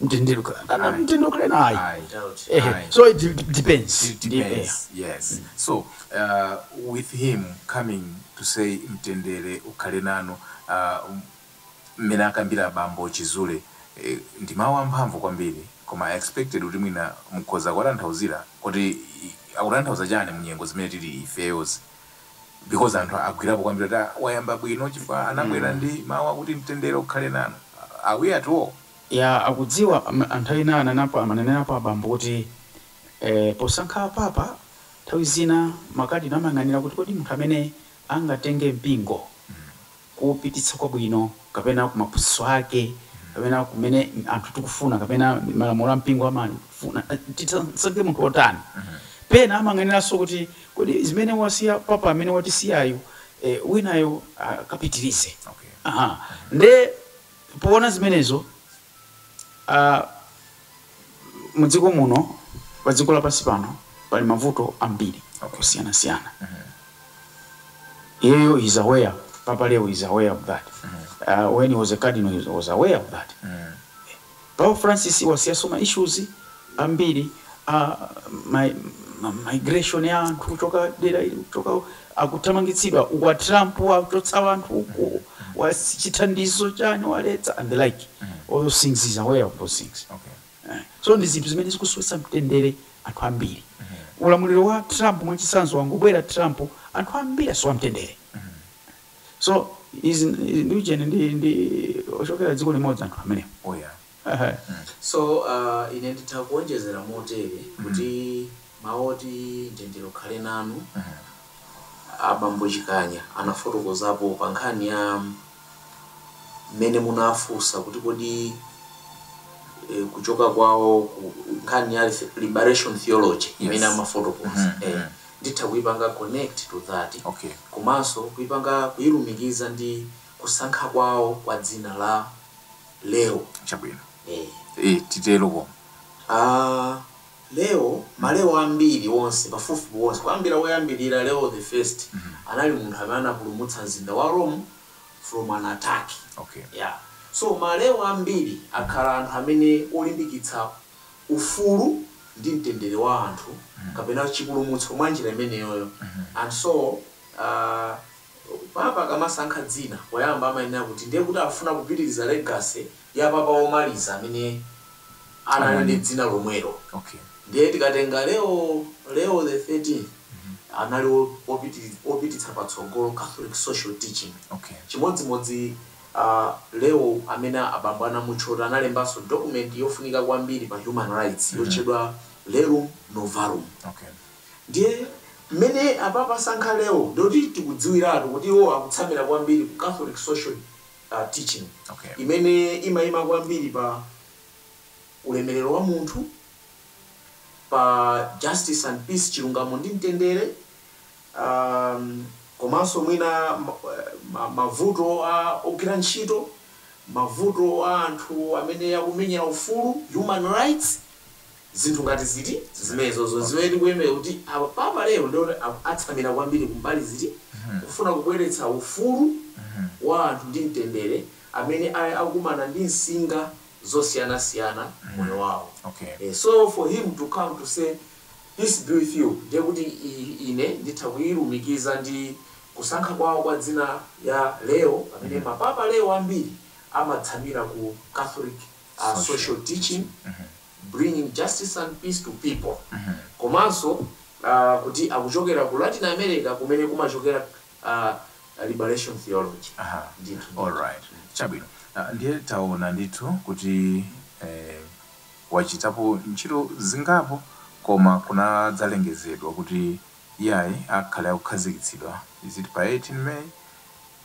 mtendere ukhala kapena Ayi. mtendere ukhale nanu Ayi, I doubt. ehe Ayi. so it de- depends It Ndi- depends. Yes. So, uh, with him coming to say mtendere ukhale nanu, uh, m- mmene akambira bambo Chizule, eh, ndi mawu amphamvu kwambiri koma I expected kuti mwina mukhoza kuwatanthauzira kuti i- akutanthauza chani mu nyengo zimene tili ifeyozi because anthu agwirapo kwambiri kuti "Ah, wayamba bwino chifukwa anabwera ndi mawu akuti mtendere ukhale nanu are we at all Ya akudziwa a nthawi zina ananapo amanenerapo abambo kuti eh posankha apapa nthawi zina makadinala amayang'anira kuti kodi munthu amene angatenge mpingo kuupititsa kwabwino kapena ku maphunzitso ake kapena kumene anthu tikufuna kapena malamulo a mpingo amafuna tisankhe munthu wotani pena amayang'aniranso kuti kodi zimene wasiya papa amene watisiyayu eh winayo akapitirize aha nde Poona zimenezo, a mudziko muno, pa dziko lapansi pano pali mavuto ambiri osiyanasiyana. Iyeyo he is aware, Papa Leo is aware of that, when he was a cardinal he was aware of that. Papa Francis wasiyaso ma issues ambiri a ma ma migration a anthu kuchoka dera ili kuchoka akuthamangitsidwa uku a Trump wachotsa anthu uku wa chithandizo chani waletsa and the like all those things he is aware of those things so ndi zinthu zimene zikusowetsa mtendere anthu ambiri ulamuliro wa Trump mwachisanzo wangobwera Trump anthu ambiri asowa mtendere. So izi izi ndi ujeni ndi ndi ochokera dziko limodzi anthu amenewa. Oh yeah. Ehe. So uh, ine nditha kuonjezera motere kuti mawu oti mtendere ukhale nanu abambo Chikanya anafotokozapo pa nkhani ya mmene munafunsa kuti kodi eh, kuchoka kwawo ku nkhani ya liberation theology imene amafotokoza eh, nditha kuipanga connect to that okay. komanso kuipanga kuilumikiza ndi kusankha kwawo kwa dzina la Leo chabwino eh. eh, titero koma Ah, Leo maleo ambiri onse pafupifupi onse kuyambira woyambirira Leo the first anali munthu amene anapulumutsa mzinda wa Rome from an attack okay. yeah. so maleo ambiri akhala anthu amene olimbikitsa ufulu ndi mtendere wa anthu kapena chipulumutso mwa njira imeneyoyo. And so aah Papa akamasankha dzina poyamba amayenera kuti ndiye kuti afuna kupitiriza legacy ya Papa womaliza amene anali ndi dzina lomwelo. Ndiye tikatenga Leo Leo the 13th anali wopititsa patsogolo Catholic social teaching chimodzimodzi. Leo, amene abambo anamutchota, analembanso dokumenti yofunika kwambiri pa human rights yotchedwa Rerum Novarum. Ndiye mmene apapa asankha Leo ndiye kuti tikudziwiratu kuti iwo akutsamira kwambiri ku Catholic social teaching imene imaima kwambiri pa ulemerero wa munthu, pa justice and peace, chilungamo ndi mtendere, um, komanso mwina mavuto a ogwira ntchito, mavuto a anthu amene akumenyera ufulu, human rights, zinthu ngati ziti zimenezozo zimene tikuyembekeza kuti Papa Leo ndiye atsamira kwambiri kumbali ziti mhm. kufuna kubweretsa ufulu mhm. wa anthu ndi mtendere amene akumana ndi nsinga zosiyanasiyana mhm. moyo wawo. Okay. Eh, so for him to come to say Peace be with you ndiye kuti i, ine nditha kuilumikiza ndi kusankha kwawo kwa dzina ya Leo amene ma Papa Leo ambiri amatsamira ku Catholic social teaching bringing justice and peace to people komanso a kuti akuchokera ku Latin America kumene kumachokera a liberation theology. Aha, Ndithu ndithu. alright, chabwino. Ah, Ndiye taona ndithu kuti eh, Wachitapo ntchito zingapo, koma kunadzalengezedwa kuti iyayi akhale akukhazikitsidwa, is it pa 18 May?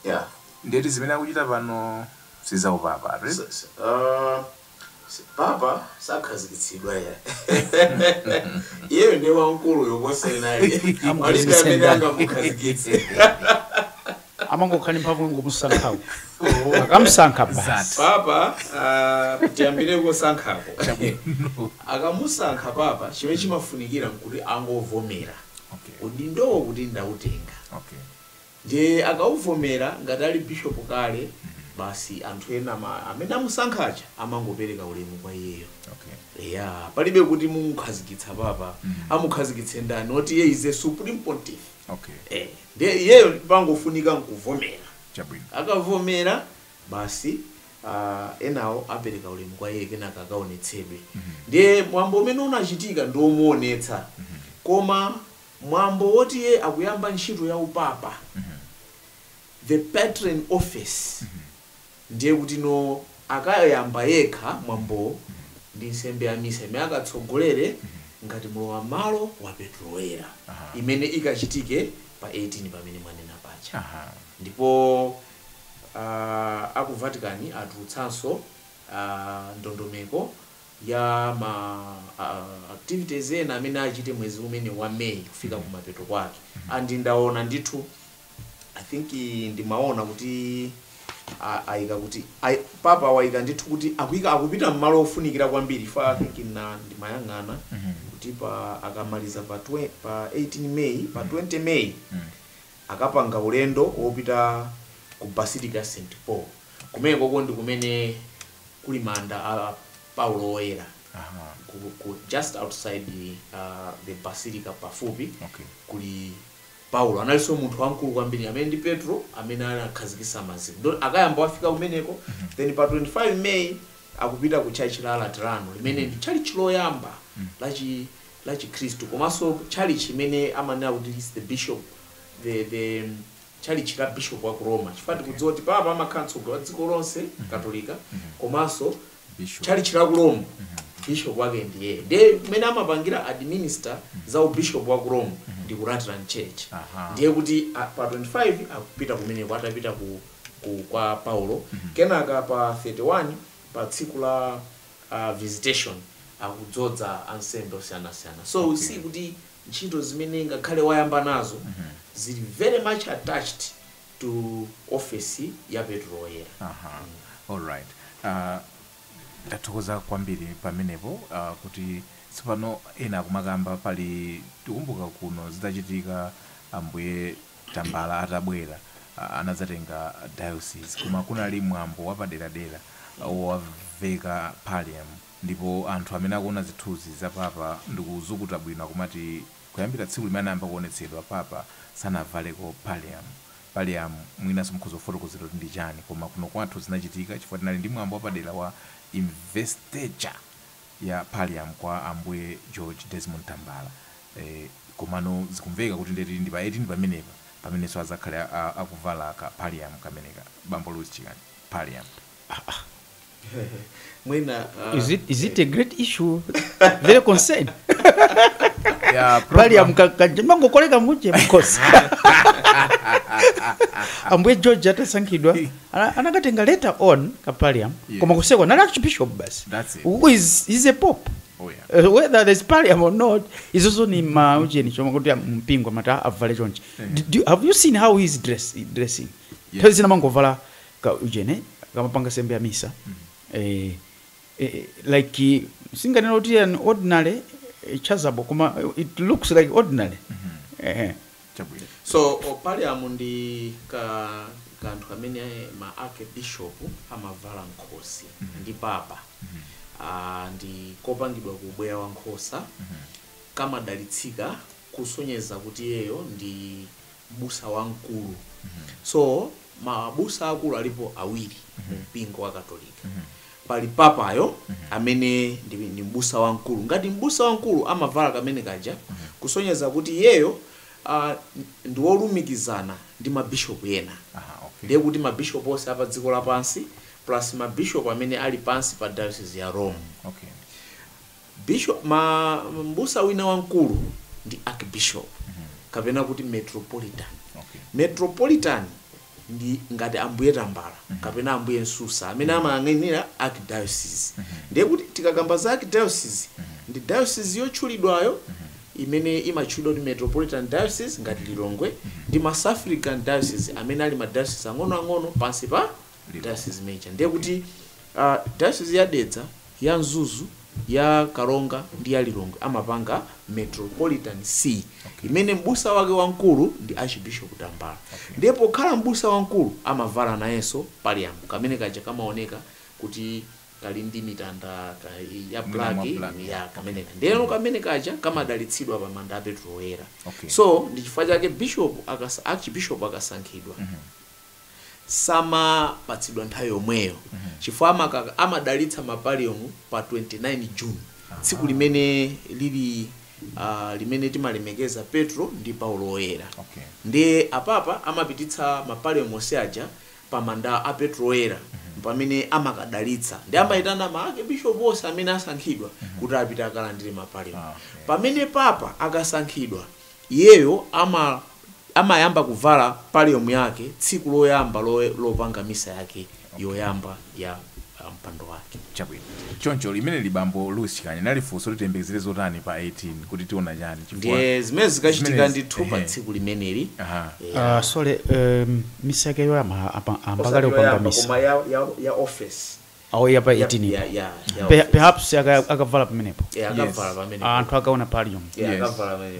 Yeah, ndiye ti zimene akuchita pano si za uPapa ayi eti? S, Aaa, si, Papa sakhazikitsidwa iyayi. Iyeyo ndiye wamkuluyo kuposa ena ayi, palibe Amkhazikitse amene ndani? angamukhazikitse. amangokhala ndi mphamvu yongomusankha akamusankha basi Zati. papa ah, tiyambire kosankhako akamusankha papa chimene chimafunikira nkuti angovomera Okay. udindowo kuti ndautenga Okay. ndiye akauvomera ngati ali bishopu kale basi anthu ena ma- amene amusankha aja amangopereka ulemu kwa iyeyo Okay. ya palibe kuti mumukhazikitsa papa amukhazikitse ndani oti iye is the supreme pontiff Okay. Eh, ndiye iyeyo pangofunika nkuvomera Chabwino. akavomera basi ah, enawo apereka ulemu kwa iye kenaka akaonetsedwe ndiye mwambo umene unachitika ndi omuonetsa koma mwambo woti iye akuyamba ntchito ya upapa the Petrine office Ndiye kuti no akayamba yekha mwambowo ndi nsembe ya misa imene akatsogolere ngati mlowam'malo wa Petro Woyera Aha. imene ikachitike pa 18 pamene mwanena paja. Aha. Ndipo ah, a ku Vatican atulutsanso ah, ndondomeko ya ma ah, activities ena amene achite mwezi umene wa May kufika kumapeto kwake. And ndaona ndithu i think eh, ndimaona kuti a- ayika kuti ayi- papa wayika ndithu kuti akuyika akupita mmalo ofunikira kwambiri fa i think na ndimayang'ana kuti pa akamaliza pa, twe, pa 18 may pa 20 may akapanga ulendo wopita ku basilica st paul kumene koko ndi kumene kuli manda a paulo woyera Aha. ku, ku, just outside uh, the basilica pafupi Okay. kuli Paulo analinso munthu wamkulu kwambiri amene ndi Petro amene anakhazikisa maziko ndiye akayamba wafika kumeneko then pa 25 May akupita ku tchalitchi la Laterano limene ndi tchalitchi loyamba la chi la chikhristu komanso tchalitchi imene amanena kuti is the bishop the the tchalitchi la bishop wa ku Roma chifukwa tikudziwa kuti papa amakhala mtsogoleri wa dziko lonse katolika komanso tchalitchi la ku Rome, bishop wake ndiyeyo. Ndiye kumene amapangira administer za u bishop wa ku Rome ndi ku Lateran Church. Ndiye kuti a, pa 25 akupita kumeneko atapita ku, ku kwa Paulo. Kenaka pa 31 pa tsiku la a, visitation akudzodza ansembe osiyanasiyana. So we see kuti ntchito zimene ngakhale wayamba nazo zili very much attached to office ya Petro Woyera. Aha, alright. Uh, ndathokoza kwambiri pamenepo uh, kuti tsopano ena akumakamba pali tikumbuka kuno zidachitika ambuye tambala atabwera uh, anadzatenga diocese koma kunali mwambo wapaderadera uh, wowaveka pallium ndipo anthu amene akuona zithunzi za papa ndikuzukuta bwino akumati Kuyambira tsiku limene anayamba kuonetsedwa, Papa sanavaleko pallium. Pallium mwinanso mukhoza kufotokozera kuti ndi chani, koma kuno kwathu zinachitika chifukwa tinali ndi mwambo wapadera wa investiture ya pallium kwa Ambuye George Desmond Tambala. Eeh, komano zikumveka kuti ndithu ndi pa 18 pamenepa pamenenso azakhale akuvala ka pallium kameneka, Bambo Louis Chikani. Pallium. mwina ah, is it, is it a great issue very concern Yeah, pali program. amkakanje mangokoleka muje mkosi ambuye george atasankhidwa ana- anakatenga later on kapaliam Yeah. koma kuseko nali archbishop basi That's it. who is, is a pope Oh, yeah. Uh, whether there's paliam or not izozo ni ma ujeni choma kuti mpingo amati avale chonchi Do- do- have you seen how he's dress, dressing Yeah. nthawi zina mangovala ka ujeni akamapanga sembe ya misa eh, eh, like singanena kuti an ordinary eh, chasuble koma it looks like ordinary eh, chabwino so pallium ndi ka kanthu kamene ma archbishop amavala m'khosi ndi papa Ah, ndi kopangidwa ku ubweya wa nkhosa kamadalitsika kusonyeza kuti iyeyo ndi m'busa wamkulu so mabusa akulu alipo awiri mu mpingo wa katolika pali papayo amene ndi, ndi m'busa wamkulu ngati m'busa wamkulu amavala kamene kaja kusonyeza kuti iyeyo uh, ndi wolumikizana ndi mabishopu ena Aha, okay. ndiye kuti mabishopu onse apa dziko lapansi plus mabishopu amene ali pansi pa diocese ya rome Okay. Bishop, ma, mbusa wina wamkulu ndi archbishop kapena kuti metropolitan. Okay. Metropolitan ndi ngati Ambuye Tambala kapena Ambuye Msusa amene amayang'anira archdiocese. Ndiye kuti tikakamba za archdiocese ndi diocese yotchulidwayo imene imatchulidwa kuti metropolitan diocese ngati Lilongwe ndi ma suffragan diocese amene ali ma diocese ang'onoang'ono pansi pa Diocese mwake. Ndiye kuti uh, Diocese ya Dedza, ya Mzuzu, ya Karonga ndi ya Lilongwe amapanga Metropolitan See okay. imene mbusa wake wamkulu ndi Archbishop Tambala. Okay. Ndiye pokhala mbusa wamkulu amavala nayenso pallium kamene kaja kamaoneka kuti kali ndi mitanda ka, ya black ya kamene okay. Ndiyeno mm. kamene kaja kamadalitsidwa pa manda a Petro Woyera. Okay. So ndi chifukwa chake bishop akasa, Archbishop akasankhidwa mm -hmm. samapatsidwa nthawi yomweyo chifukwa amakaka amadalitsa ma pallium pa 29 june tsiku limene lili ah, limene timalemekeza petro ndi paulo woyera Okay. ndiye apapa amapititsa ma pallium onse aja pa manda a petro woyera pamene amakadalitsa ndiye amayitana ma archbishop onse amene asankhidwa kuti apite akalandire ma pallium Ah, okay. pamene papa akasankhidwa iyeyo ama amayamba kuvala pallium yake tsiku loyamba lopanga misa yake yoyamba ya mpando wake. Chabwino. Choncho limeneli bambo Louis Chikani linali funso loti tiyembekezere zotani pa 18 kuti tiona chani chifukwa Ndiye zimene zikachitika zimenezi- ndithu pa ehe. tsiku limeneli. Aha. Yeah. Ah, sorry em, misa yake yoyamba apa- ayamba kale kupanga misa koma ya, ya, ya office awo yapa Ya- 18 ya- ya- ya Pe- office. perhaps aka- akavala pamenepo Yeah, Yes. akavala pamene anthu akaona pallium Yeah, Yes. akavala pamene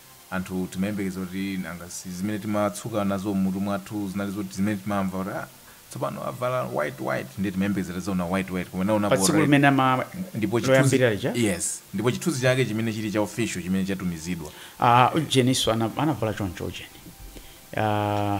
anthu timayembekeza kuti nanga si zimene timadzuka nazo m'mutu mwathu zinali zoti zimene timamva kuti ah, tsopano avala white white ndiye timayembekeza tizaona white white koma naonapo patsiku red limene ama ndipo chithunzi loyambira lija yes ndipo chithunzi chake chimene chili cha official chimene chatumizidwa ah, ujeniso ana- anavala choncho ujeni Ah,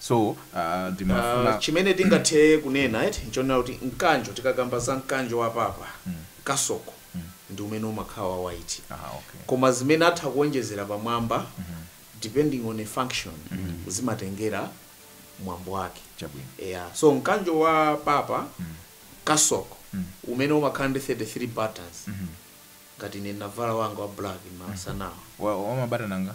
So uh, ndimafuna uh, chimene tingathe kunena eti nchonena kuti mkanjo tikakamba za mkanjo wa papa mm. kasoko mm. ndi umene umakhala wa white ah, okay. koma zimene atha kuonjezera pamwamba mm -hmm. depending on a function mm -hmm. zimatengera mwambo wake yeah. so mkanjo wa papa mm. kasoko mm. umene umakhala ndi 33 buttons mm -hmm. ngati ine ndavala wanga wa black masanawa mm -hmm. wa, wa mabatana nga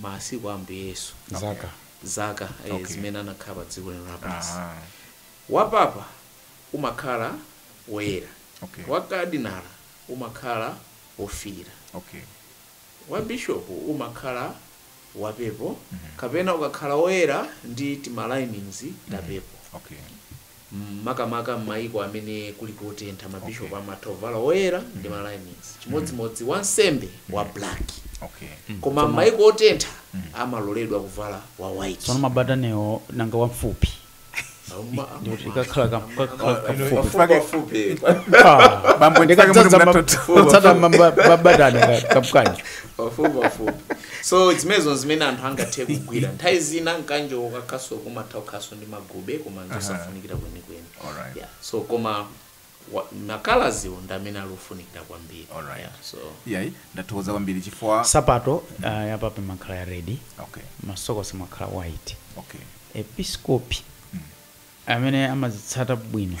masiku a Ambuye Yesu zaka zaka eh, Okay. zimene anakhala pa dziko lino lapansi Aha. wapapa umakhala woyera Okay. wakadinala umakhala wofiira okay wa bishopu umakhala wapepo kapena ukakhala woyera ndi timalinings tapepo okay Makamaka m'maiko amene kuli kotentha, mabishopu amatha kuvala oyera ndi ma linings, chimodzimodzi wansembe wa black. Koma m'maiko otentha, amaloledwa kuvala wa Tsopano white. mabataniwo nanga wamfupi Ama- ama- ndiye kuti kakhala ka- kakhala ama- kafupi pafupi- pafupi. Ah, Bambo, ndipake mutu ndikadzadza ma- munatoto. kutsata ma- ma- mabatani ka- kamkanjo Pafupi, pafupi. so zimenezo zimene anthu angathe kugwira nthawi zina mkanjo ukakhalanso kumatha kukhalanso ndi magube koma nzosafunikira kwenikweni Alright. yeah. so koma wa- ma colours-wo ndi amene ali ofunikira kwambiri Alright. yeah. so yayi ndathokoza kwambiri chifukwa sapato uh, ya papa imakhala ya red okay masokosi amakhala white okay episkopi amene amazitsata bwino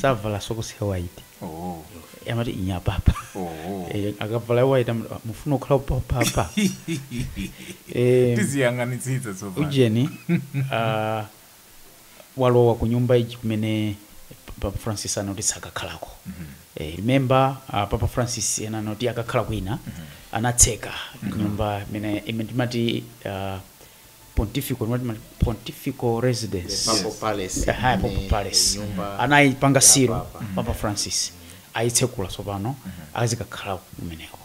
savala sokosi ya white oh Eh, amati ndi ya papa oh Eh, akavala ya white amati, "Ah, mufuna kukhala papa Eh, tiziyang'anitsitsa tsopano ujeni ah, walowa ku nyumba ija kumene papa francis anati sakakhalako Eh, remember ah, papa Francis anati akakhala kwina anatseka nyumba imene imene timati ah, pontifical mati mati pontifical residence Papal Palace Aha, imene Papal Palace ndi nyumba anayipanga seal Papa. papa francis ayitsekula tsopano azikakhala kumeneko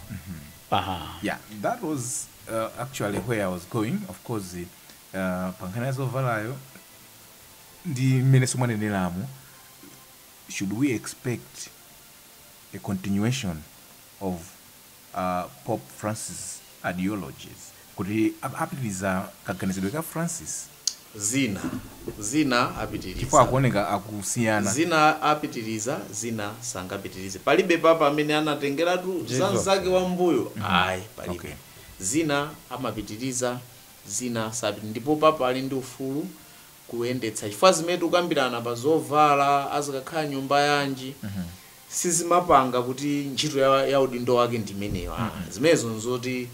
aha yeah that was uh, actually where i was going of course uh, pankhani ya zovalayo ndi mmene mwaneneramu should we expect a continuation of a Pope Francis ideologies kuti apitiliza kaganizidwe ka Francis? Zina, zina chifukwa apitiliza. akuoneka akusiyana. Zina apitiliza, zina sangapitilize. Palibe Papa amene anatengeratu za Zilizonse. mnzake wa m'mbuyo Mhm. ayi Okay. palibe. Zina amapitiliza, zina sapit ndipo Papa ali ndi ufulu kuyendetsa chifukwa zimene tikukambirana pa zovala, azikakhala nyumba yanji, Mhm. sizimapanga kuti ntchito ya ya udindo wake ndi imeneyo mm -mm. zimenezo nzoti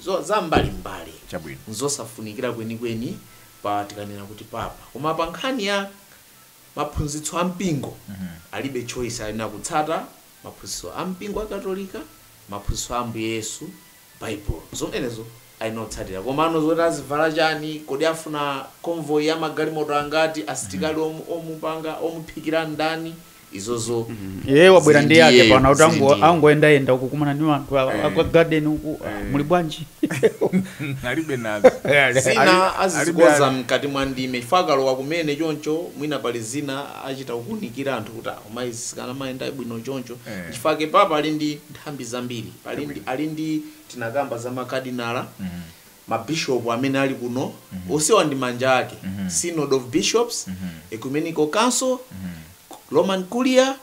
zo, za mbali mbali Chabwino. nzosafunikira kwenikweni pa tikanena kuti papa koma pa nkhani ya maphunzitso a mpingo alibe choice ali n'kutsata maphunzitso a mpingo wa katolika maphunzitso a ambuye yesu Bible. Zomwezo ali n'kutsatira. Komano zoti azivala chani, kodi afuna convoy ya magalimoto angati, asitikali om, omupanga, omuphikira n'ndani, izozo Iye wabwera zili ndi ndi yake iyeyo, pano kuti zili ango- ndi iyeyo. angoyendayenda uku kumana ni anthu awa Eh. akwa garden uku ah, Eh. muli bwanji alibe nazo zina azizikonza mkati mwa ndime chifukwa akalowa kumene choncho mwina pali zina achita kukunikira anthu kuti koma izi sikanamayenda bwino choncho Eh. chifukwa chake papa ali ndi nthambi zambiri pali ndi Chabwino. ali ndi tinakamba za makadinala mabishopu amene ali kuno onsewa ndi manja ake synod of bishops ecumenical council roman curia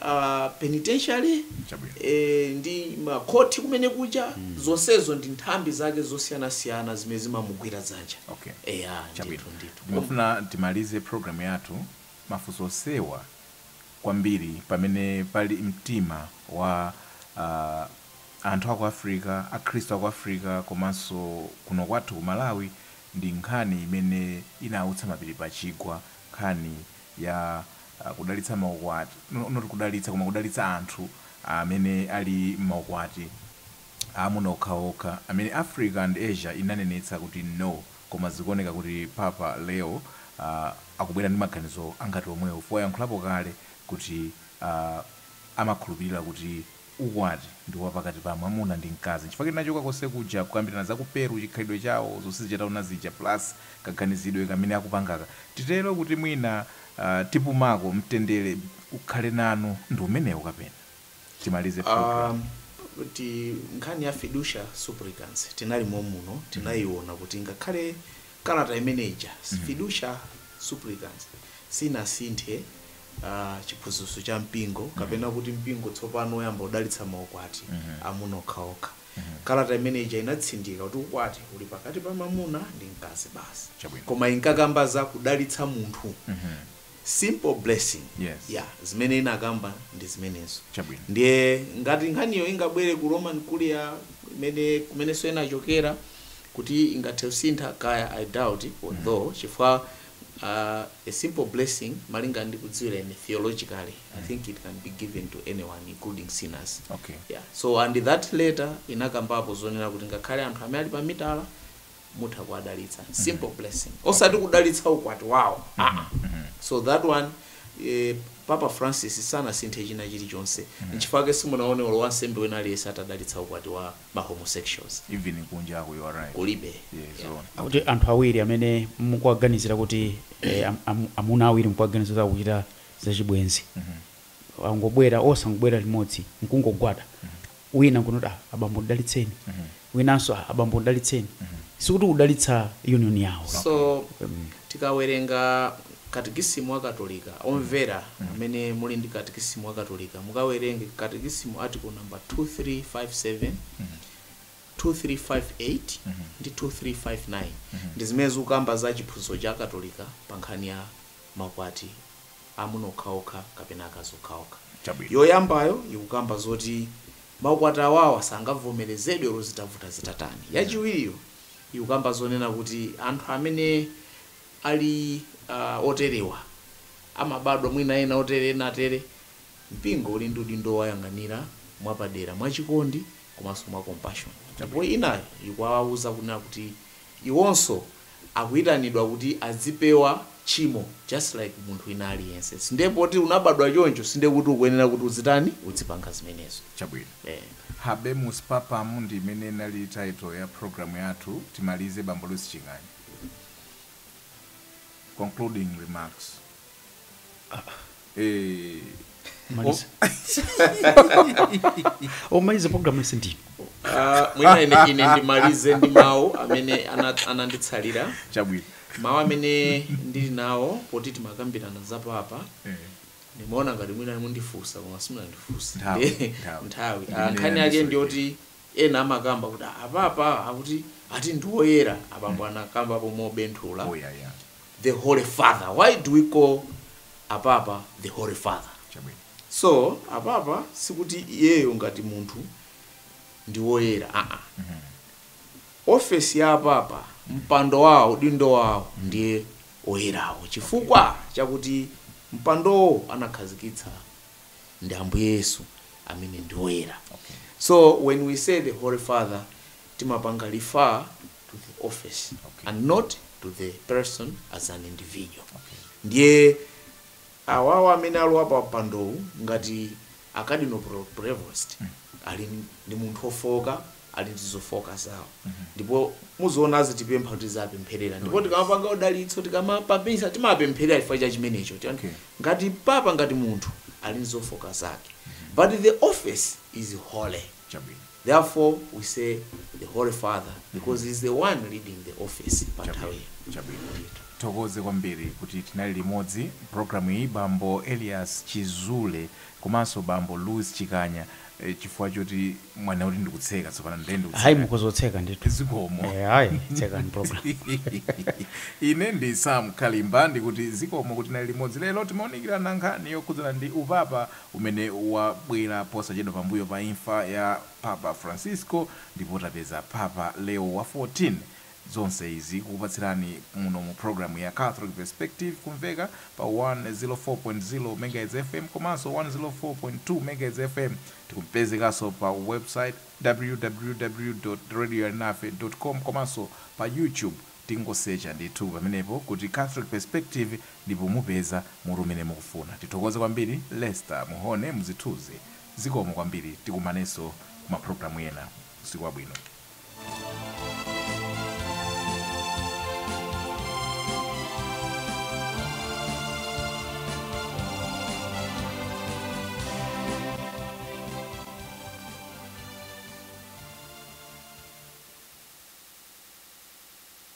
uh, penitentiary Chabwino. eh, ndi makhoti kumene kuja zonsezo ndi nthambi zake zosiyanasiyana zimene zimamugwira dzanja Okay. eya Chabwino. ndithu ndithu ndimafuna timalize program yathu mafunso onsewa kwambiri pamene pali mtima wa a anthu aku Africa, akhristu aku Africa komanso kuno kwathu ku Malawi ndi nkhani imene inautsa mapiri pa chigwa, nkhani ya kudalitsa maukwati, not kudalitsa koma kudalitsa anthu amene ali m'maukwati. Aamuna okhaokha amene Africa and Asia inanenetsa kuti no, koma zikuoneka kuti Papa Leo uh akubwera ndi maganizo angati omwewo chifukwa wayankhulapo kale kuti uh amakhulupirira kuti ukwati ndi wapakati pa mwamuna ndi mkazi nchifukwa tinachoka konse kuja kukambirana za ku Peru chikhalidwe chawo zonse zija taona zija plus kaganizidwe kamene akupangaka titero kuti mwina uh tipumako mtendere ukhale nanu ndi umenewo kapena? timalize program. Kuti nkhani ya Fiducia Supplicans tinali mommuno tinayiona kuti ngakhale kalata imene ija Fiducia Supplicans sinasinthe chiphunzitso cha mpingo kapena kuti mpingo tsopano uyamba kudalitsa maukwati amuna okhaokha. Kalata imene ija inatsindika kuti ukwati uli pakati pa mamuna ndi mkazi basi. Chabwino. Koma inkakamba za kudalitsa munthu simple blessing Yes. ya zimene inakamba ndi zimenezo Chabwino. ndiye ngati nkhaniyo ingabwere ku Roman Curia kumenenso inachokera kuti ingathe kusintha kaya i doubt it although chifukwa uh, a simple blessing malinga ndi kudziwira ine theologically i think it can be given to anyone including sinners Okay. yeah. so and that letter inakambapo zonena kuti ngakhale anthu amene ali pa mitala mutha kuwadalitsa simple blessing osati kudalitsa ukwati wawo aa so that one eh, papa francis sanasinthe china chilichonse nchifukwa simunaone olo wansembe wina aliyense atadalitsa ukwati wa ma homosexuals even kunja ako you are right kulibe yes Yeah. on akuti anthu awiri amene mukuwaganizira kuti eh, am- am- amuna awiri mukuwaganizira kuchita zachibwenzi angobwera osangobwera limodzi nkungogwada wina nkunena kuti ah abambo ndidalitseni winanso ah abambo ndidalitseni sikuti kudalitsa union yawo so tikawerenga katekisimu wa katolika omvera amene muli ndi katekisimu wa katolika mukawerenge katekisimu article number 2357 2358 ndi 2359 ndi zimene zikukamba za chiphunzitso cha katolika pa nkhani ya makwati amuna okhaokha kapena akazi okhaokha. Chabwino. Yoyambayo ikukamba zoti maukwati awawa sangavomerezedwe olo zitavuta zitatani. Yachiwiriyo ikukamba zonena kuti anthu amene ali uh, oterewa amabadwa mwina ena otere ena atere. Mpingo uli ndi udindo owayang'anira mwapadera, mwachikondi komanso mwa compassion. Ndipo Chabwino. inayo ikuwawuza kunena kuti Iwonso akuitanidwa kuti azipewa tchimo just like munthu wina aliyense. Sindiye poti unabadwa choncho sindiye kuti ukuyenera kuti uzitani? Uzipanga zimenezo. Chabwino. Eeh. Habemus Papam ndi imene inali title ya program yathu, timalize Bambo Louis Chikanya. Concluding remarks. Aah. maliza omaliza programu yonse ndinu Ah, mwina ine, ine ndimalize ndi mawu amene ana- ananditsalira chabwino mawu amene ndili nawo poti timakambirana za papa ndimaona ngati mwina mundifunsa koma simunandifunse Nthawi, Ndi- nthawi. nthawi Ndimene Ah, nkhani yake yandisowa. ndiyoti ena amakamba kuti apapa akuti ati ndioyera apambo anakambapo mobenthulira oyaya the holy father why do we call apapa the holy father Chabwino. so apapa sikuti iyeyo ngati munthu ndi woyera aa ofesi ya apapa mpando wawo udindo wawo ndiye oyerawo chifukwa chakuti mpandowo anakhazikitsa ndi ambuye yesu amene ndi oyera Okay. so when we say the holy father timapanga refer to the office Okay. and not to the person as an individual Okay. ndiye awawa amene alowa pa mpandowu ngati akadino Pre- Prevost ali n- ndi munthu ofoka ali ndi zofoka zawo ndipo muziona azitipempha kuti tiziwapempherera ndipo tikamapanga udalitso tikamapa misa timapempherera chifukwa cha chimenecho Tiyan- Okay. ngati papa ngati munthu ali ndi zofoka zake but the office is holy chabwino. Therefore we say the Holy Father because he's the one leading the office pa nthawi Chabwino, chabwino. Ndithu. Tithokoze kwambiri kuti tinali limodzi programu iyi bambo Elias Chizule komanso bambo Louis Chikanya eh, chifukwa choti mwanena kuti ndikutseka tsopano ndiye hayi ndikutseka mukhoza kutseka ndithu zikomo Eh, hayi tsekani program ine ndi sam kalimba ndikuti zikomo kuti tinali limodzi lero timaunikirana nkhani yokhudzana ndi upapa umene wabwera posachedwa pambuyo pa imfa ya Papa Francisco ndipo tapeza Papa Leo wa 14 zonse izi tikupatsirani muno mu program ya Catholic Perspective kumveka pa 104.0 Megahertz FM komanso 104.2 Megahertz FM tikupezekanso pa website www.radioalinafe.com komanso pa YouTube Mungosecha ndithu pamenepo kuti Catholic Perspective ndipo mupeza mutu umene mukufuna. Tithokoze kwambiri Lester Muhone mzithuzi. Zikomo kwambiri tikumanenso mu ma program ena. Usiku wabwino.